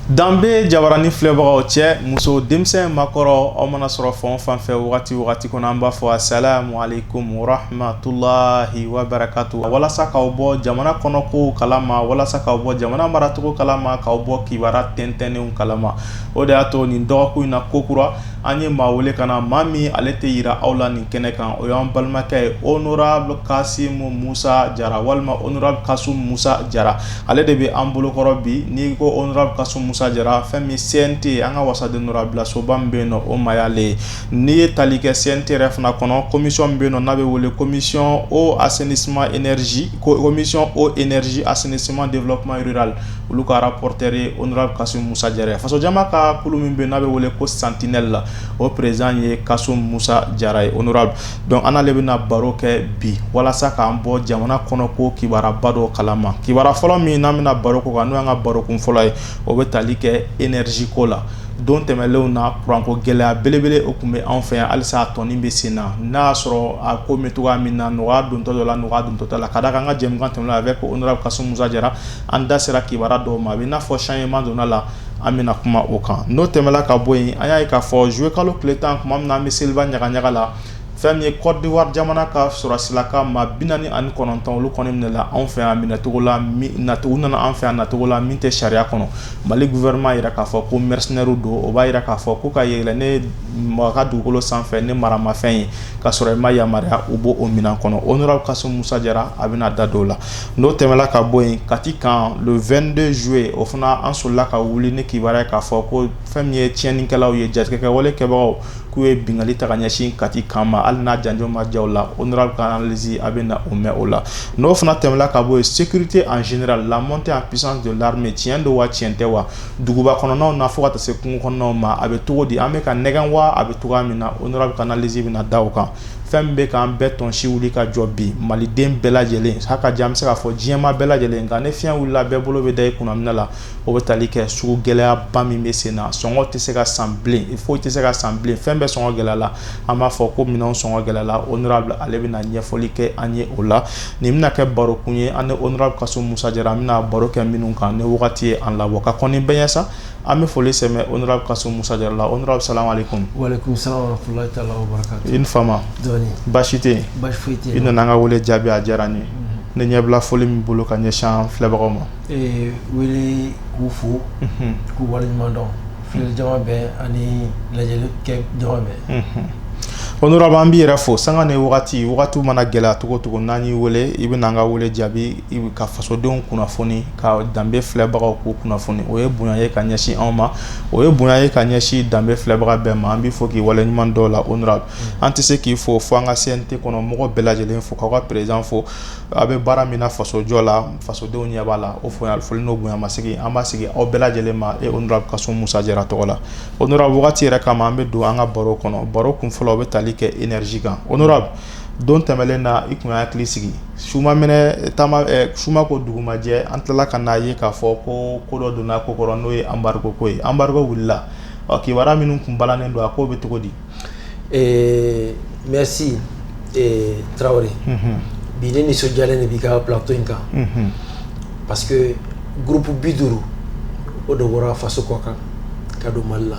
danbe jabarani filɛbagaw cɛ muso denmisɛn makɔrɔ aw mana sɔrɔ fan o fan fɛ wagati wagati kɔnɔ an b'a fɔ asalamu aleykum warahmatulahi wabarakatu walasa k'aw bɔ jamana kɔnɔ kow kalama walasa k'aw bɔ jamana maracogo kalama k'aw bɔ kibaruya tɛntɛnnenw kalama O de y'a to nin dɔgɔkun in na kokura an ye maa wele ka na maa min ale tɛ jira aw la nin kɛnɛ kan o y'an balimakɛ ye honorable kasimu musa jara walima honorable kasimu musa jara ale de bɛ an bolokɔrɔ bi n'i ko honorable kasimu musa jara fɛn min CNT an ka wasaden bilasoba min bɛ yen o maa y'ale ye n'i ye tali kɛ CNT yɛrɛ fana kɔnɔ commission min bɛ yen n'a bɛ wele commission eau assainissement énergie commission eau énergie assainissement développement rural Olu ka rapporteur ye honorable kasimu musa jara faso jama ka kulu min bɛ yen n'a bɛ wele ko sentinelle la o président ye kasimu musa jara ye honorable donc an n'ale bɛna baro kɛ bi walasa k'an bɔ jamana kɔnɔ ko kibaruyaba dɔ kala ma kibaruya fɔlɔ min n'an bɛna baro k'o kan n'o y'an ka baro kun fɔlɔ ye o bɛ taali kɛ énergie ko la don tɛmɛnlenw na kuranko gɛlɛya belebele o tun bɛ anw fɛ yan halisa a tɔnin bɛ sen na n'a y'a sɔrɔ a ko bɛ cogoya min na nɔgɔya dontɔ don a la nɔgɔya dontɔ t'a la ka d'a kan an ka jɛmukan tɛmɛnen avec honorable kasimu musa jara an da sera kibaruya dɔw ma a bɛ i n'a fɔ changement donna a la an bɛna kuma o kan n'o tɛmɛla ka bɔ yen an y'a ye k'a fɔ juillet kalo tile tan tuma min an bɛ seliba ɲagaɲaga la fɛn min ye Côte d'Ivoire jamana ka sɔrɔsilaka maa bi naani ani kɔnɔntɔn olu kɔni minɛla anw fɛ yan minɛcogo la u nana an fɛ yan nacogo la min tɛ sariya kɔnɔ mali gouvernement y'a jira k'a fɔ ko mercenaires don o b'a jira k'a fɔ ko ka yɛlɛn maa ka dugukolo sanfɛ ni maramafɛn ye ka sɔrɔ i ma yamaruya u b'o minɛn kɔnɔ honorable kasimu musa jara a bɛna da don o la n'o tɛmɛla ka bɔ yen kati kan le vingt-deux juillet o fana an solila ka wuli ni kibaruya k'a fɔ ko fɛn min ye tiɲɛninkɛlaw ye jatigɛkɛwale kɛbagaw k'u ye binkanni ta ka ɲɛsin kati kan ma hali n'a janjo ma ja o la honorable ka analyse a bɛna o mɛn o la n'o fana tɛmɛla ka bɔ yen sécurité en général la montée en puissance de l'armée tiɲɛ don wa tiɲɛ tɛ wa duguba kɔnɔnaw na fo ka taa se kungo kɔnɔnaw ma a bɛ cogo di an bɛ ka nɛgɛn wa a bɛ cogoya min na honorable ka analyse bɛna da o kan fɛn min bɛ k'an bɛɛ tɔnsi wuli ka jɔ bi maliden bɛɛ lajɛlen ha ka jan an bɛ se k'a fɔ diɲɛma bɛɛ lajɛlen nka ni fiɲɛ wulila bɛɛ bolo bɛ da i kun minan la o bɛ tali kɛ sugu gɛlɛyaba min bɛ sen na sɔngɔ tɛ se ka san bilen foyi tɛ se ka san bilen fɛn bɛɛ sɔngɔ gɛlɛyala an b'a fɔ ko minɛn sɔngɔ gɛlɛyala honorable ale bɛna ɲɛfɔli kɛ an ye o la nin bɛna kɛ barokun ye an ni honorable kasimu musa jara an bɛna baro kɛ minnu kan ni wagati ye an labɔ ka kɔni bɛ yen sa An bɛ foli sɛmɛ honorable Kasumu Musa Jara la honorable salamu alaikum i ni fama baasi tɛ i nana an ka weele jaabi a diyara n ye ne ɲɛbila foli min bolo ka ɲɛsin an filɛbagaw ma wele k'u fo k'u waleɲuman dɔn filɛ jama bɛɛ ani lajɛli kɛ jama bɛɛ honorable an b'i yɛrɛ fo sanga ni wagati wagati mana gɛlɛya cogo cogo n'an y'i weele i bɛ na an ka weele jaabi ka fasodenw kunnafoni ka danbe filɛbagaw k'u kunnafoni o ye bonya ye ka ɲɛsin anw ma o ye bonya ye ka ɲɛsin danbe filɛbaga bɛɛ ma an b'i fo k'i waleɲuman dɔn la honorable an tɛ se k'i fo fo an ka CNT kɔnɔ mɔgɔ bɛɛ lajɛlen fo k'aw ka président fo aw bɛ baara min na fasojɔ la fasodenw ɲɛ b'a la o foli n'o bonya masegin an b'a segin aw bɛɛ lajɛlen ma e honorable Kasumu Musa Jara tɔgɔ la honorable wagati yɛrɛ kama an bɛ don an ka baro kɔnɔ baro kun fɔlɔ o bɛ tali kɛ énergie kan honorable don tɛmɛnlen na i tun y'an hakili sigi suma suma ko dugumajɛ an tilala ka n'a ye k'a fɔ ko ko dɔ donna ko kɔrɔ n'o ye embargo ko ye embargo wulila ɔ kibaru minnu tun balanen don a ko bɛ cogo di ɛɛ merci Tarawele bi ne nisɔndiyalen de b'i ka plateau in kan parce que groupe bi duuru o de bɔra faso kɔ kan ka don mali la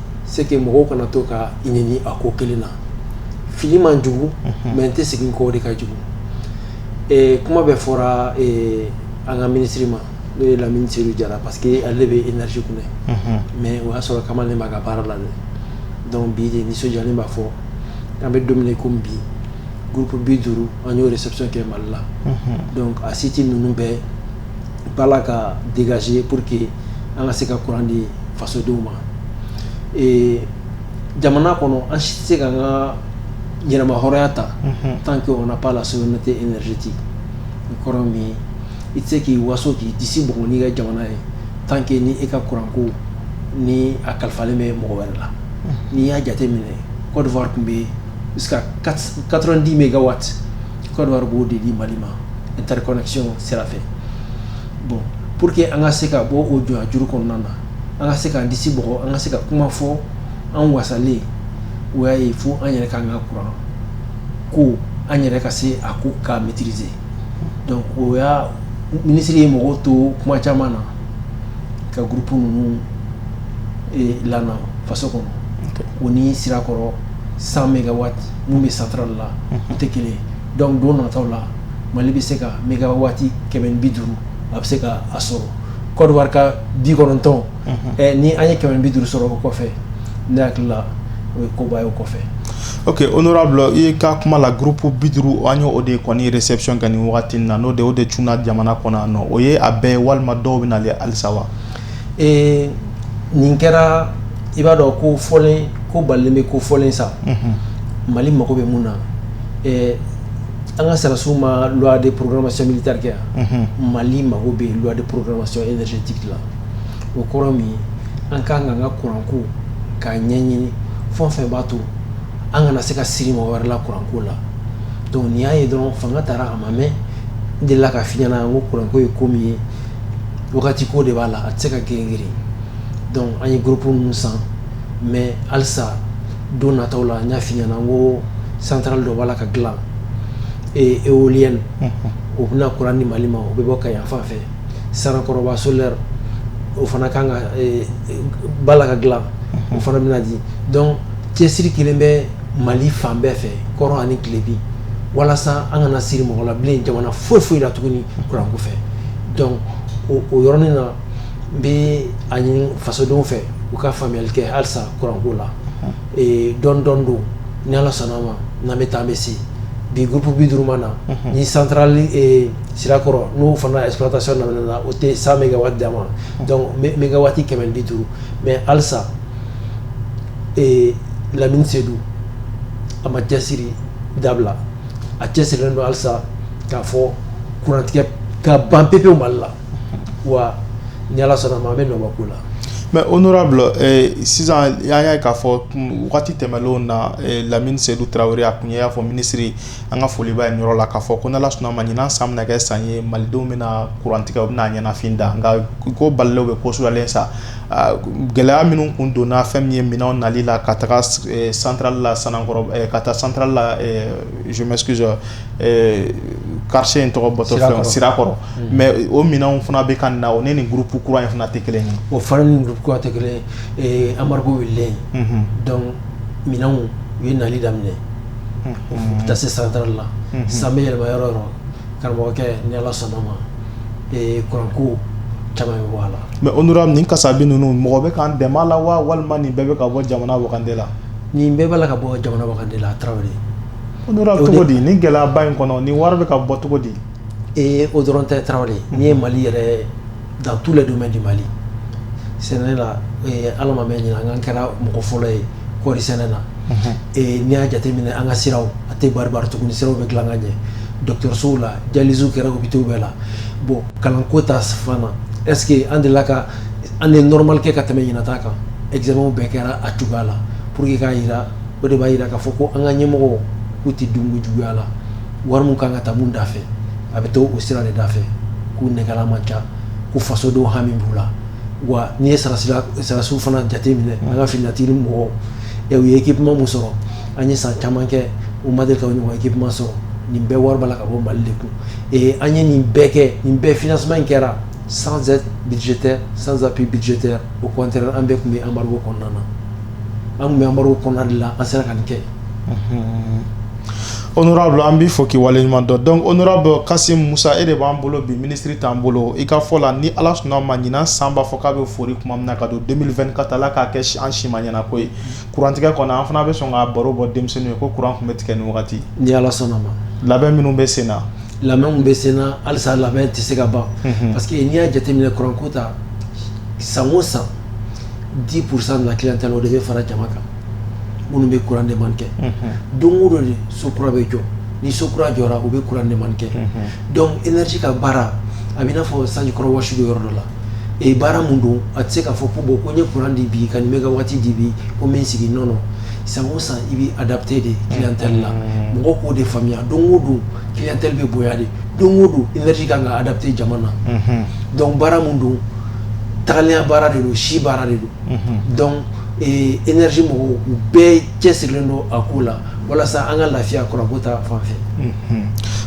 c'est que mɔgɔw kana to ka i nɛni a ko kelen na fili man jugu mais n tɛ segin kɔ de ka jugu kuma bɛ fɔra an ka minisiri ma n'o ye Lamini Seyidu Tarawele parce que ale bɛ énergie kunna mais o y'a sɔrɔ kamalen b'a ka baara la dɔnku bi ne nisɔndiyalen b'a fɔ an bɛ don min na komi bi groupe bi duuru an y'o réception kɛ mali la a siti ninnu bɛɛ b'a la ka dégager pour que an ka se ka kuran di fasodenw ma jamana kɔnɔ an si tɛ se k'an ka yɛrɛmahɔrɔnya ta tant qu'on n'a pas la souveraineté énergétique o kɔrɔ min i tɛ se k'i waso k'i disi bugɔ n'i ka jamana ye tant que ni e ka kuranko ni a kalifalen bɛ mɔgɔ wɛrɛ la n'i y'a jate minɛ Côte d'Ivoire tun bɛ yen quatre-vingt-dix mégawatts Côte d'Ivoire b'o de di mali ma interconnexion sira fɛ bon pour que an ka se ka bɔ o jɔnyajuru kɔnɔna na an ka se k'an disi bugɔ an ka se ka kuma fɔ an wasalen o y'a ye fo an yɛrɛ ka an ka kuran ko an yɛrɛ ka se a ko k'a maîtriser donc o y'a ministre ye mɔgɔw to kuma caman na ka groupe ninnu eh, lana faso kɔnɔ o ni sirakɔrɔ 100 mégawatts mun bɛ centrale la u tɛ kelen ye dɔnku don nataw la mali bɛ se ka mégawatt kɛmɛ ni bi duuru a bɛ se ka a sɔrɔ Côte d'Ivoire ka bi kɔnɔntɔn ni an ye kɛmɛ ni bi duuru sɔrɔ o kɔfɛ ne hakili la o ye koba ye o kɔfɛ ok honorable i ka kuma la groupe bi duuru an ye o de kɔni réception kɛ nin waati na n'o de o de cunna jamana kɔnɔ nɔ o ye a bɛɛ walima dɔw bɛ na halisa wa ee nin kɛra i b'a dɔn ko fɔlen ko balen bɛ ko fɔlen sa mali mago bɛ mun na an ka sɔrɔdasiw ma loi de programmation militaire kɛ yan mali mago bɛ loi de programmation énergétique la o kɔrɔ min ye an ka kan ka an ka kuranko k'a ɲɛɲini fɛn o fɛn b'a to an kana se ka siri mɔgɔ wɛrɛ la kuranko la donc n'i y'a ye dɔrɔn fanga taara a ma mɛn n delila k'a f'i ɲɛna n ko kuranko ye ko min ye wagati ko de b'a la a tɛ se ka girin girin donc an ye groupe ninnu san mais halisa don nataw la n y'a f'i ɲɛna n ko centrale dɔ b'a la ka dilan e éolienne o bɛna kuran di mali ma o bɛ bɔ kayi fan fɛ sanankɔrɔba solaire o fana kan ka b'a la ka dilan o fana bɛna di donc cɛsiri kɛlen bɛ mali fan bɛɛ fɛ kɔrɔn ani tilebin walasa an kana siri mɔgɔ la bilen jamana foyi foyi la tuguni kuranko fɛ donc o yɔrɔnin na n b'a ɲini fasodenw fɛ u ka faamuyali kɛ halisa kuranko la dɔɔnin dɔɔnin donc ni ala sɔnna ma n'an bɛ taa bɛ se bi groupe bi duuru ma na ni centrale sirakɔrɔ n'o fana exploitation daminɛna o tɛ cent mégawatts d'an ma donc mégawatts kɛmɛ bi duuru mais halisa lamini seyidu a ma cɛsiri dabila a cɛsirilen don halisa k'a fɔ kurantigɛ ka ban pewu pewu mali la wa ni ala sɔnna ma an bɛ nɔbɔ ko la mais honorable sisan an y'a ye k'a fɔ waati tɛmɛlenw na lamini sedu tarawele a tun y'a fɔ minisiri an ka foli b'a ye nin yɔrɔ la k'a fɔ ko n'ala sɔnna ma ɲinan san bɛna kɛ san ye malidenw bɛna kurantigɛ u bɛna a ɲɛnafin da nka ko balenw bɛ ko sudalen sa Gɛlɛya minnu tun donna fɛn min ye minɛnw nali la ka taga centrale la san ka taa centrale la je m'excuse quartier in tɔgɔ sirakɔrɔ mais o minɛnw fana bɛ ka na o ni nin groupe kura in fana tɛ kelen o fana ni tɛ kelen embargo wulilen minɛnw u ye nali daminɛ u taa se centrale la san yɛlɛma yɔrɔ o yɔrɔ Karamɔgɔkɛ ni ala sɔnna ma kuranko caman bɛ bɔ a la mais honorable nin kasabi ninnu mɔgɔ bɛ k'an dɛmɛ a la wa walima nin bɛɛ bɛ ka bɔ jamana wagande la nin bɛɛ bɛ ka bɔ jamana wagande la tarawele cogo di ni gɛlɛyaba in kɔnɔ ni wari bɛ ka bɔ cogo di ee o dɔrɔn tɛ tarawele n'i ye mali yɛrɛ dans tous les domaines du mali sɛnɛ la a ma mɛn ɲinan an kɛra mɔgɔ fɔlɔ ye kɔɔri sɛnɛ na n'i y'a jateminɛ an ka siraw a tɛ baribari tuguni ni siraw bɛ dilan ka ɲɛ dɔgɔtɔrɔsow la dialyse kɛra hôpitaux bɛɛ la bon kalan ko ta fan na est-ce que an delila ka année normale kɛ ka tɛmɛ ɲinan ta kan examenw bɛɛ kɛra a cogoya la pour que k'a jira o de b'a jira k'a fɔ ko an ka ɲɛmɔgɔw k'u tɛ dunko juguya la wari min kan ka taa min da fɛ a bɛ taa o sira de da fɛ k'u nɛgɛla man ca ko fasodenw hami b'u la wa n'i ye sarasiw fana jate minɛ an ka finitigi mɔgɔw u ye équipement min sɔrɔ an ye san caman kɛ u ma deli ka ɲɔgɔn équipement sɔrɔ nin bɛɛ wari b'a la ka bɔ mali de kun ee an ye nin bɛɛ kɛ nin bɛɛ financement in kɛra sans aide budgétaire sans appui budgétaire au contraire an bɛɛ tun bɛ embargo kɔnɔna na an tun bɛ embargo kɔnɔna de la an sera ka nin kɛ honorable an b'i fo k'i waleɲuman dɔn donc honorable kasim musa e de b'an bolo bi minisiri t'an bolo i ka fɔ la ni ala sɔnna ma ɲinan san b'a fɔ k'a bɛ fori tuma min na ka don deux mille vingt-quatre ala k'a kɛ an si ma ɲɛna ko ye kurantigɛ kɔnɔ an fana bɛ sɔn ka baro bɔ denmisɛnninw ye ko kuran tun bɛ tigɛ nin wagati ni ala sɔnna ma labɛn minnu bɛ sen na labɛn bɛ sen na halisa labɛn tɛ se ka ban parce que n'i y'a jateminɛ kuranko ta san o san dix pour cent de la clientèle o de bɛ fara jama kan minnu bɛ kuran demande kɛ don o don de so kura bɛ jɔ ni so kura jɔra u bɛ kuran demande kɛ donc énergie ka baara a bɛ i n'a fɔ sanji kɔrɔ wɔsi don yɔrɔ dɔ la e baara min don a tɛ se k'a fɔ ko bon ko n ye kuran di bi ka megawati di bi ko n bɛ n sigi non non san o san i b'a adapter de clientèle la mɔgɔw k'o de faamuya don o don clientèle bɛ bonya de don o don énergie kan k'a adapter jamana na donc baara min don tagaya baara de don si baara de don donc énergie mɔgɔw bɛɛ cɛ sirilen don a ko la walasa an ka lafiya kuranko ta fan fɛ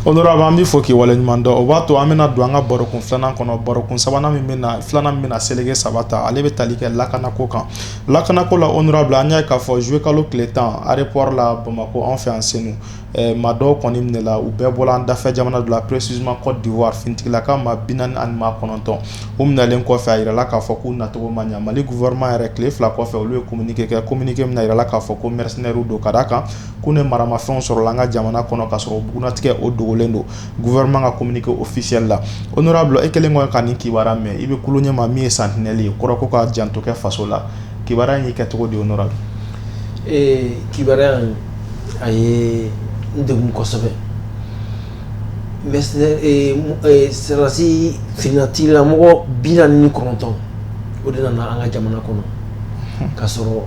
honorable an b'i fo k'i waleɲuman dɔn o b'a to an bɛna don an ka baro kun filanan kɔnɔ baro kun sabanan min bɛ filanan min bɛna seleke saba ta ale bɛ tali kɛ lakanako kan lakanako la honorable an y'a ye k'a fɔ zuyekalo tile tan aéroport la bamakɔ an fɛ yan senu maa dɔw kɔni minɛla u bɛɛ bɔra an dafɛ jamana dɔ la précisément côte d'ivoire finitigila ka maa bi naani ani maa kɔnɔntɔn u minɛnlen kɔfɛ a jirala k'a fɔ k'u nacogo ma ɲɛ mali gouvernement yɛrɛ tile fila kɔfɛ olu ye kominike kɛ kominike min na a jirala k'a fɔ ko mercenaires don ka da a kan k'u ni maramafɛnw sɔrɔla an ka jamana kɔnɔ ka sɔrɔ bugunnatigɛ o dogolen don gouvernement ka kominike officiel la honorable e kelen kɔ ka nin kibaru mɛn i bɛ kulu ɲɛmaa min ye santinɛli ye kɔrɔ ko k'a janto kɛ faso la kibaruya y'i kɛ cogo di honorable kibaruya a ye n degun kosɛbɛ sɔrɔdasi finitigilamɔgɔ bi naani ni kɔnɔntɔn o de nana an ka jamana kɔnɔ ka sɔrɔ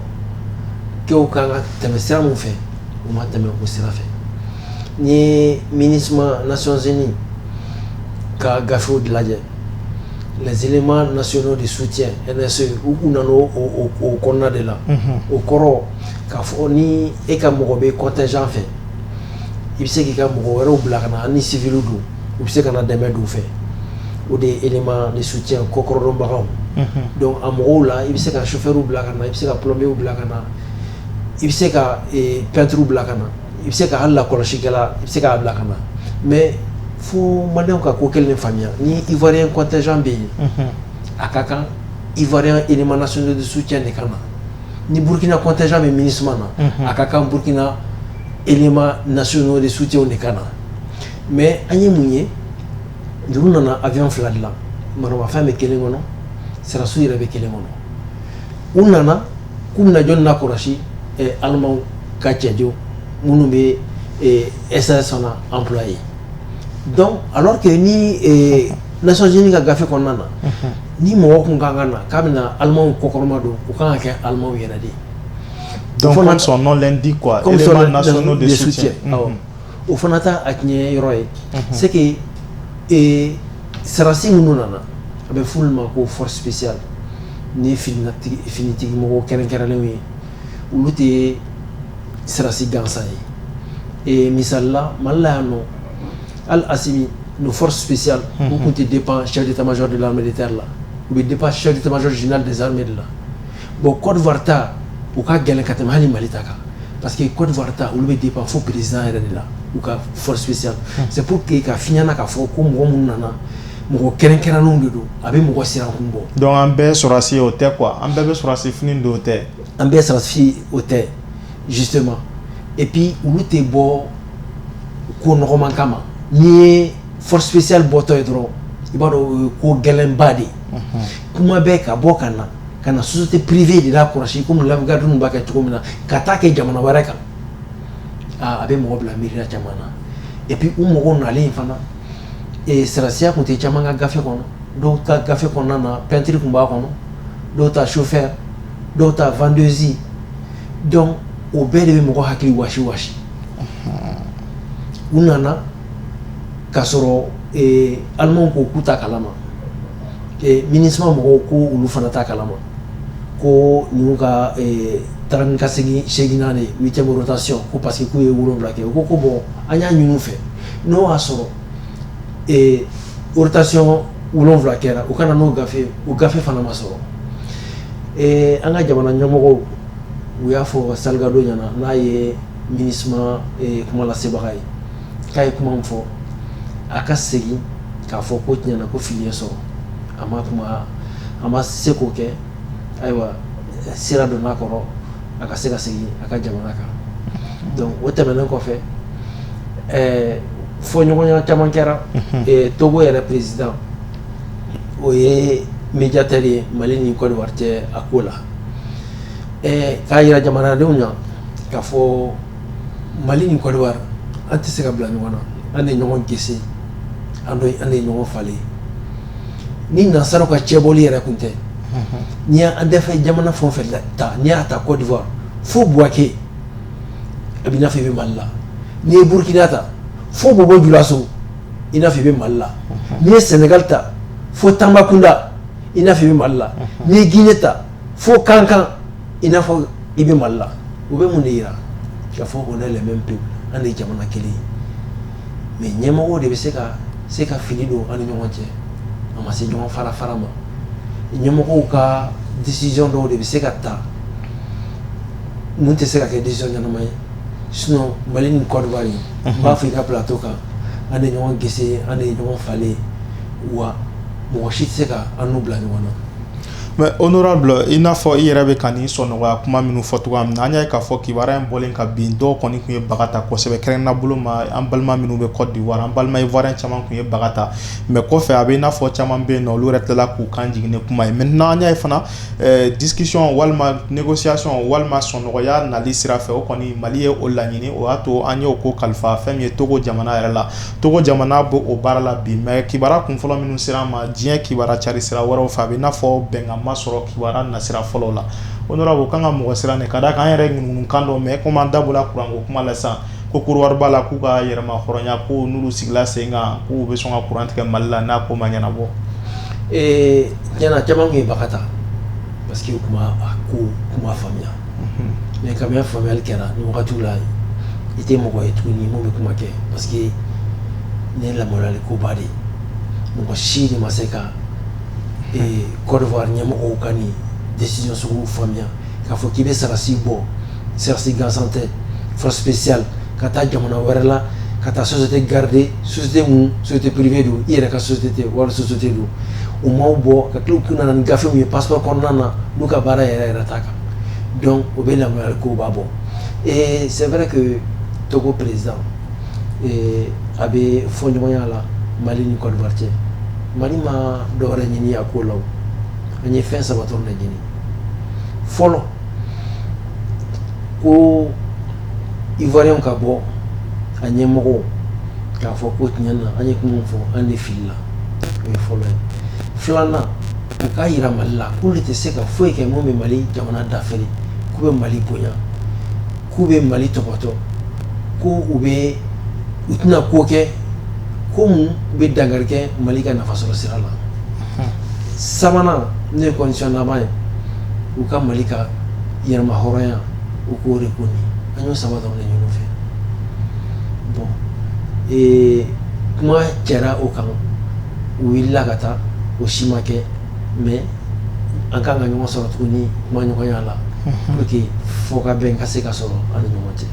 kɛw kan ka tɛmɛ sira min fɛ u ma tɛmɛ o sira fɛ n'i ye minusma nations unies ka gafew lajɛ les éléments nationaux de soutien nse u nana o kɔnɔna de la o kɔrɔ K'a fɔ ni e ka mɔgɔ bɛ contingent fɛ i bɛ se k'i ka mɔgɔ wɛrɛw bila ka na ni civil don u bɛ se ka na dɛmɛ don fɛ o de ye élément de soutien kɔkɔrɔdonbagaw donc a mɔgɔw la i bɛ se ka chauffeurw bila ka na i bɛ se ka plombierw bila ka na i bɛ se ka peintrew bila ka na i bɛ se ka lakɔlɔsikɛla la i bɛ se k'a bila ka na mais fo Malienw ka ko kelen faamuya ni ivoirien contingent bɛ yen a ka kan ivoirien élément national de soutien de ka na ni burukina kɔnte bɛ mini suma na a ka kan burukina ema nasi n'o de sutew de ka na mɛ an ye mun ye juru nana a bɛ fila dilan marafɛn bɛ kelen kɔnɔ saraso yɛrɛ bɛ kelen kɔnɔ u nana k'u minɛjɔ na kɔlɔsi alima ka cɛj minnu bɛ esa sɔnna an fila ye dɔn a tɛ ni naonc ka gafe kɔnɔna na Ni mɔgɔ tun ka kan na k'a bɛ na alimaw kɔkɔrɔma don u kan ka kɛ alimaw yɛrɛ de dɔn fana sɔn nɔn di kuwa o fana taa a tiɲɛ yɔrɔ ye se sarasi minnu nana a bɛ furu ma ko fɔsiya ni finitigi mɔgɔ kɛrɛnkɛrɛnnenw ye olu tɛ ye sarasi gansan ye misalila malila yan nɔ Al Assimi nos forces spéciales u tun tɛ dépend chef d'état major de l'armée de terre la u bɛ dépend chef d'état major général des armées de la bon Cote d'Ivoire ta u ka gɛlɛn ka tɛmɛ hali Mali ta kan parce que Cote d'Ivoire ta olu bɛ dépend fo président yɛrɛ de la u ka force spéciale c'est pour que ka f'i ɲɛna k'a fɔ ko mɔgɔ minnu nana mɔgɔ kɛrɛnkɛrɛnnenw de don a bɛ mɔgɔ sirankun bɔ donc an bɛɛ sɔrɔdasi ye o tɛ quoi an bɛɛ bɛ sɔrɔdasi fini don o tɛ an bɛɛ sɔrɔdasi o tɛ justement et puis olu tɛ bɔ ko nɔgɔman kama n'i ye force spéciale bɔtɔ ye dɔrɔn i b'a dɔn ko gɛlɛnba de ye ko maa bɛ ka bɔ ka na ka na société privée de lakɔlɔsi comme la garde dun b'a kɛ cogo min na ka t'a kɛ jamana wɛrɛ kan aaa a bɛ mɔgɔ bila miiriya caman na et puis u mɔgɔw nalen in fana sɔrɔdasiya tun tɛ caman ka gafe kɔnɔ dɔw ta gafe kɔnɔna na peintre tun b'a kɔnɔ dɔw ta chauffeur dɔw ta vendeuse donc o bɛɛ de bɛ mɔgɔ hakili wa wa u nana k'a sɔrɔ Allemandw ko k'u t'a kalama MINUSMA mɔgɔw ko olu fana t'a kalama ko ninnu ka taa ka segin seginnan huitième rotation ko parce que k'u ye wolonwula kɛ u ko ko bon an y'a ɲini u fɛ n'o y'a sɔrɔ rotation wolonwula kɛra u ka na n'o gafe u gafe fana ma sɔrɔ an ka jamana ɲɛmɔgɔ u y'a fɔ Salgado ɲɛna n'a ye MINUSMA kumalasebaga ye k'a ye kuma fɔ a ka segin k'a fɔ ko tiɲɛna ko fili y'a sɔrɔ a ma kuma a ma se k'o kɛ ayiwa sira donna a kɔrɔ a ka se ka segin a ka jamana kan donc o tɛmɛnen kɔfɛ ɛɛ fɔɲɔgɔnya caman kɛra togo yɛrɛ président o ye miniятɛ ye mali ni Côte d'Ivoire cɛ a ko la k'a jira jamanadenw na k'a fɔ mali ni Côte d'Ivoire an tɛ se ka bila ɲɔgɔn na an de ɲɔgɔn gese an de ɲɔgɔn falen ni nasaraw ka cɛbɔli yɛrɛ tun tɛ n'i y'an dafɛ jamana fɛn o fɛn ta n'i y'a ta Côte d'Ivoire fo buwake a bɛ i n'a fɔ i bɛ mali la n'i ye burukina ta fo bɔbɔ julaso i n'a fɔ i bɛ mali la n'i ye sɛnɛgali ta fo tanbakunda i n'a fɔ i bɛ Mali la n'i ye Guinée ta fo Kankan i n'a fɔ i bɛ Mali la o bɛ mun de jira k'a fɔ on est les mêmes peuples an de ye jamana kelen ye mais ɲɛmɔgɔw de bɛ se ka fili don an ni ɲɔgɔn cɛ a ma se ɲɔgɔn fara fara ma ɲɛmɔgɔw ka décision dɔw de bɛ se ka ta mun tɛ se ka kɛ décision ɲɛnama ye sinon Mali ni Côte d'Ivoire n b'a fɔ i ka plateau kan an de ye ɲɔgɔn gese an de ye ɲɔgɔn falen wa mɔgɔ si tɛ se ka an n'u bila ɲɔgɔn na mais honorable i n'a fɔ i yɛrɛ bɛ ka nin sɔnɔgɔya kuma minnu fɔ cogoya min na an y'a ye k'a fɔ kibaruya in bɔlen ka bin dɔw kɔni tun ye baga ta kosɛbɛ kɛrɛnkɛrɛnnenya bolo ma an balima minnu bɛ Côte d'Ivoire an balima ivoirien caman tun ye baga ta mais kɔfɛ a bɛ i n'a fɔ caman bɛ yen n'olu yɛrɛ tilala k'u kan jigin ni kuma ye maintenant an y'a ye fana discussion walima négociation walima sɔnɔgɔya nali sira fɛ o kɔni mali ye o laɲini o y'a to an y'o ko kalifa fɛn min ye togo jamana yɛrɛ la togo jamana bɛ o baara la bi mais kibaruya kun fɔlɔ minnu sera an ma diɲɛ kibaruya cari sira wɛrɛw fɛ a bɛ i n'a fɔ bɛnkan ma sɔrɔ kibaruya nasira fɔlɔ la honorable o ka kan ka mɔgɔ siran ka d'a kan an yɛrɛ ŋunuŋunukan dɔ mɛn comme an da bɔla kuran ko kuma la ko Côte d'Ivoire b'a la k'u ka yɛrɛmahɔrɔnya ko n'olu sigila sen kan k'u bɛ sɔn ka kuran tigɛ mali la n'a ko ma ɲɛnabɔ tiɲɛna caman tun ye baga ta parce que u tun ma a ko kuma faamuya mais kabini faamuyali kɛra nin wagati la i tɛ mɔgɔ ye tuguni minnu bɛ kuma kɛ parce que nin ye lamaloyali koba de mɔgɔ si de ma se ka Côte d'Ivoire ɲɛmɔgɔw ka nin décision sugu faamuya k'a fɔ k'i bɛ sarasi bɔ sarasi gansan tɛ force spéciale ka taa jamana wɛrɛ la ka taa société garder société min société privée don i yɛrɛ ka société tɛ wali société don u ma bɔ ka tila k'u nana ni gafe min ye passeport kɔnɔna na n'u ka baara yɛrɛ yɛrɛ t'a kan donc o bɛ lamaloyali koba bɔ et c'est vrai que togo président a bɛ fɔɲɔgɔnya la mali ni Côte d'Ivoire cɛ mali ma dɔ wɛrɛ ɲini a ko la an ye fɛn saba dɔrɔn de ɲini fɔlɔ ko ivoirien ka bɔ a ɲɛmɔgɔw k'a fɔ ko tiɲɛ na an ye kuma fɔ an de filila o ye fɔlɔ ye filanan u k'a yira mali la k'olu tɛ se ka foyi kɛ mun bɛ mali jamana dafiri k'u bɛ mali bonya k'u bɛ mali tɔbɔtɔ ko u bɛ u tɛna ko kɛ ko mun bɛ dankari kɛ mali ka nafasɔrɔ sira la sabanan n'o ye condition laban ye u ka Mali ka yɛrɛmahɔrɔnya u k'o reconnu an y'o saba dɔrɔn de ɲini u fɛ bon ee kuma cɛra o kan u wulila ka taa o si ma kɛ mais an kan ka ɲɔgɔn sɔrɔ tuguni kuma ɲɔgɔnya la pour que fɔkabɛn ka se ka sɔrɔ an ni ɲɔgɔn cɛ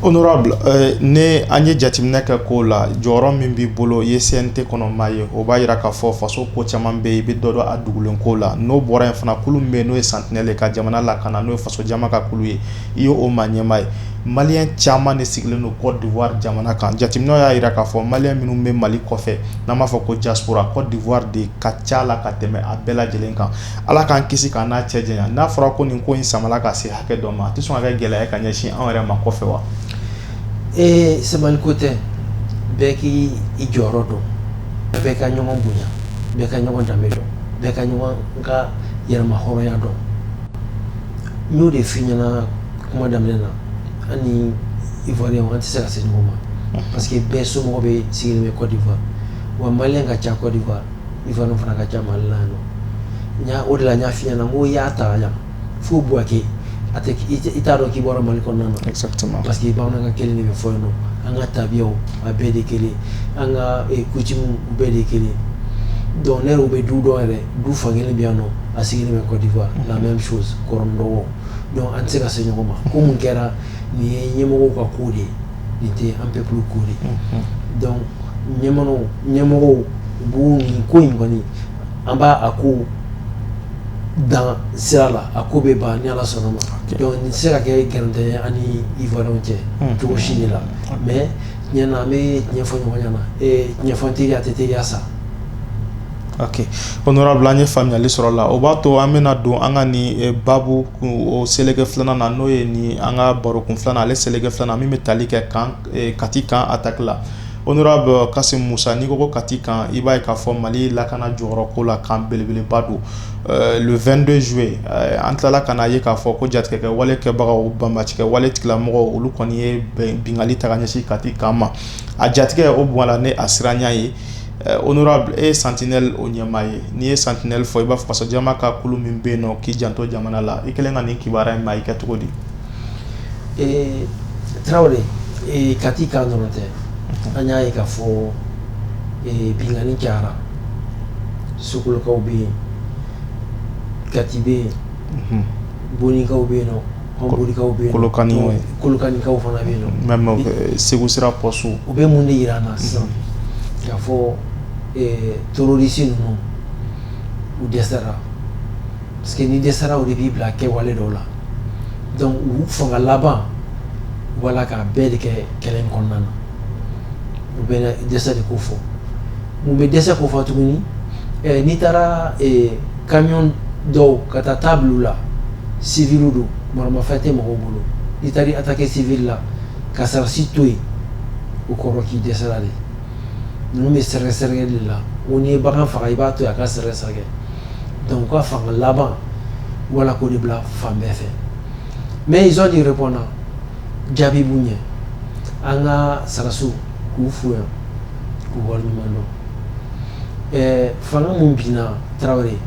Honorable ni an ye jateminɛ kɛ ko la jɔyɔrɔ min b'i bolo i ye CNT kɔnɔ maa ye o b'a jira k'a fɔ faso ko caman bɛ i bɛ dɔ dɔn a dugulen ko la n'o bɔra yen fana kulu min bɛ yen n'o ye Sentinelle ka jamana lakana n'o ye faso jama ka kulu ye i y'o maa ɲɛmaa ye maliyɛn caman de sigilen don Côte d'Ivoire jamana kan jateminɛ y'a jira k'a fɔ maliyɛn minnu bɛ mali kɔfɛ n'an b'a fɔ ko diaspora Côte d'Ivoire de ka ca la ka tɛmɛ a bɛɛ lajɛlen kan Ala k'an kisi k'an n'a cɛ janya n'a fɔra ko nin ko in samala ka se hakɛ dɔ ma a tɛ sɔn ka kɛ gɛlɛya ye ka ɲɛsin anw yɛrɛ ma kɔfɛ wa? Ee sabali ko tɛ bɛɛ k'i i jɔyɔrɔ dɔn bɛɛ ka ɲɔgɔn bonya bɛɛ ka ɲɔgɔn danbe dɔn bɛɛ ka ɲɔgɔn ka yɛrɛmahɔrɔnya dɔn n y'o de f'i ɲɛna kuma daminɛ na an ni ivoirien an tɛ se ka se ɲɔgɔn ma parce que bɛɛ somɔgɔ bɛ sigilen bɛ Côte d'Ivoire wa maliyɛn ka ca Côte d'Ivoire ivoirien fana ka ca mali la yan o de la n y'a f'i ɲɛna ko i y'a ta yan fo Bouaké i t'a dɔn k'i bɔra mali kɔnɔ na parce que bamanankan kelen de bɛ fɔ yen nɔ an ka tabiya a bɛɛ de kelen an ka coutume bɛɛ de kelen donc ne bɛ du dɔn yɛrɛ du fan kelen bɛ yan nɔ a sigilen bɛ Côte d'Ivoire la même chose kɔrɔ ni dɔgɔ donc an tɛ se ka se ɲɔgɔn ma ko mun kɛra nin ye ɲɛmɔgɔ ka ko de ye nin tɛ an peuple ko de donc ɲɛmɔgɔ ɲɛmɔgɔw bon nin ko in kɔni an b'a a ko dan sira la a ko bɛ ban ni ala sɔnna ma donc nin tɛ se ka kɛ gɛrɛntɛ an ni ivoirien cɛ cogo si de la mais ɲɛna an bɛ tiɲɛ fɔ ɲɔgɔn ɲɛna tiɲɛ fɔ teri ye a tɛ teriya sa ok honorable an ye faamuyali sɔrɔ la o b'a to an bɛna don an ka nin babu seleke filanan na n'o ye nin an ka baro kun filanan ale seleke filanan min bɛ tali kɛ kati kan attaque la honorable Kassim Moussa n'i ko kati kan i b'a ye k'a fɔ mali lakana jɔyɔrɔ ko la kan belebeleba don le 22 juillet an tilala ka n'a ye k'a fɔ ko jatigɛkɛ wale kɛbagaw banbaancikɛ wale tigilamɔgɔ olu kɔni ye binkanni ta ka ɲɛsin kati kan ma a jatigɛ o bɔra ni a siranya ye Eh, honorable e ye sentinelle o ɲɛmaa ye n'i ye sentinelle fɔ i b'a fɔ fasojama ka kulu min bɛ yen nɔ k'i janto jamana la i kɛlen ka nin kibaruya in mɛn i kɛ cogo di eh, tarawele eh, kati kan dɔrɔn tɛ mhm. an y'a ye k'a fɔ binkanni cayara sokolokaw bɛ yen kati bɛ yen mhm. bonikaw bɛ yen nɔ segu sira poste u bɛ mun de jira an na sisan k'a fɔ terroriste ninnu u dɛsɛra parce que n'i dɛsɛra o de b'i bila kɛwale dɔw la donc u fanga laban wala k'a bɛɛ de kɛ kɛlɛ in kɔnɔna na o bɛ dɛsɛ de kofɔ Mun bɛ dɛsɛ kofɔ tuguni n'i taara ka bin dɔw kan taa taabolo bila la civil don maramafɛn tɛ mɔgɔw bolo i taara attaquer civil la ka sarasi to yen o kɔrɔ k'i dɛsɛra de ninnu bɛ sɛrɛkɛ de la o n'i ye bagan faga i b'a to a ka sɛrɛkɛsɛrɛkɛ donc u ka fanga laban wala k'o de bila fan bɛɛ fɛ mais ils ont du répondant jaabi b'u ɲɛ an ka sarasiw k'u fo yan fanga min binna tarawele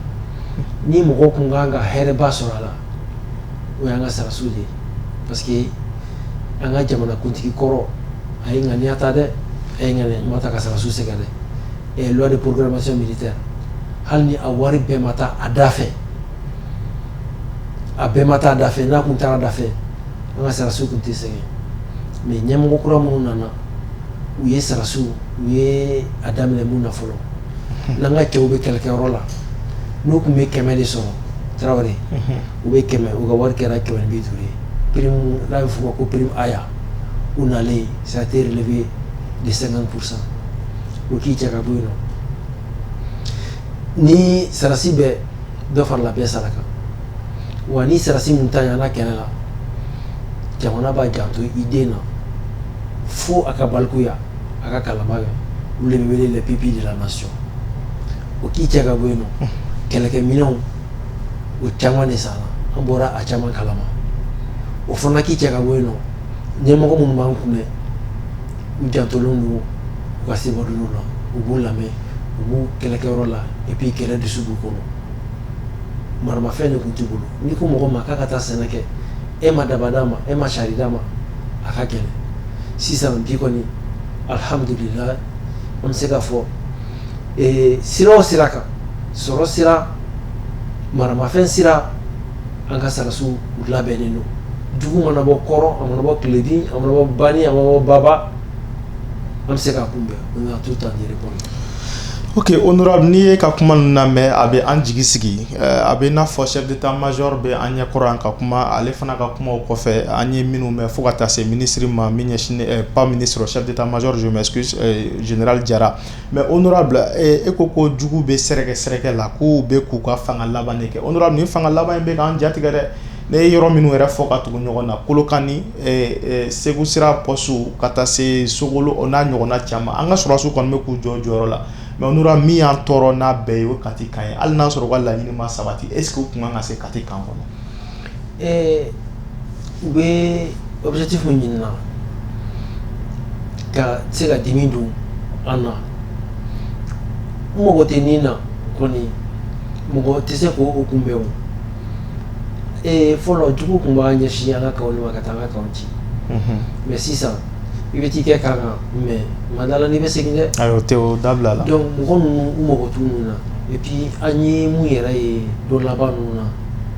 ni mɔgɔ tun kan ka hɛrɛba sɔrɔ a la o y'an ka sarasiw de ye parce que an ka jamanakuntigi kɔrɔ a ye ŋaniya ta dɛ a ye ŋaniya ɲuman ta ka sarasiw sɛgɛrɛ dɛ et loi de programmation militaire hali ni a wari bɛɛ ma taa a da fɛ a bɛɛ ma taa a da fɛ n'a tun taara a da fɛ an ka sarasiw tun tɛ sɛgɛn mais ɲɛmɔgɔ kura minnu nana u ye sarasiw u ye a daminɛ mun na fɔlɔ n'an ka cɛw bɛ kɛlɛkɛyɔrɔ la n'u tun bɛ kɛmɛ de sɔrɔ tarawele u bɛ kɛmɛ u ka wari kɛra kɛmɛ ni bi duuru ye prime n'a bɛ f'o ma ko prime aya u nalen ça a été relevé de 50 pour cent o k'i cɛ ka bɔ yen nɔ ni sarasi bɛɛ dɔ farala bɛɛ sara kan wa ni sarasi min ta ɲana kɛlɛ la jamana b'a janto i den na fo a ka balikuya a ka kalanba kɛ olu de bɛ wele les pupilles de la nation o k'i cɛ ka bɔ yen nɔ kɛlɛkɛminɛnw o caman de sanna an bɔra a caman kalama o fana k'i cɛ ka bɔ yen nɔ ɲɛmɔgɔ minnu b'an kunna u jantolen don u ka subordonnés la u b'u lamɛn u b'u kɛlɛkɛyɔrɔ la et puis kɛlɛ dusu b'u kɔnɔ maramafɛn de tun t'u bolo n'i ko mɔgɔ ma k'a ka taa sɛnɛ kɛ e ma daba d'a ma e ma sari d'a ma a ka gɛlɛn sisan bi kɔni alihamdulila an bɛ se k'a fɔ sira o sira kan sɔrɔ sira maramafɛn sira An ka sɔrɔdasiw u labɛnnen don jugu mana bɔ kɔrɔn a mana bɔ tilebin a mana bɔ bani a mana bɔ baba an bɛ se k'a kunbɛn o de y'a to tan yɛrɛ kɔnɔ ok honorable n'i y'e ka kuma ninnu lamɛn a bɛ an jigi sigi a bɛ i n'a fɔ chef d'état major bɛ an ɲɛ kɔrɔ yan ka kuma ale fana ka kumaw kɔfɛ an ye minnu mɛn fo ka taa se ministre ma min ɲɛsinnen pas ministre chef d'état major je m'excuse général Jara Mais honorable e ko ko jugu bɛ sɛrɛkɛsɛrɛkɛ la k'u bɛ k'u ka fanga laban de kɛ honorable nin fanga laban in bɛ k'an jatigɛ dɛ ne ye yɔrɔ minnu yɛrɛ fɔ ka tugu ɲɔgɔn na kolokani segu sira postew ka taa se sogolo o n'a ɲɔgɔnna caman an ka sɔrɔdasiw kɔni bɛ k'u jɔ u jɔyɔrɔ la mais honorable min y'an tɔɔrɔ n'a bɛɛ ye o kati kan ye hali n'a sɔrɔ u ka laɲini ma sabati est-ce que u kun kan ka se kati kan kɔnɔ Ɛɛ u bɛ objectif min ɲini na ka se ka dimi don an na, u mago tɛ ni na kɔni mɔgɔ tɛ se k'o kunbɛn o, ee fɔlɔ jugu kun b'a ɲɛsin an ka kanw de ma ka taa an ka kanw ci, unhun, mais sisan i bɛ t'i kɛ kan kan mais ma d'a la n'i bɛ segin dɛ, ayi o tɛ o dabilala, donc mɔgɔ ninnu u mago t'u niw na et puis an ye mun yɛrɛ ye don laban ninnu na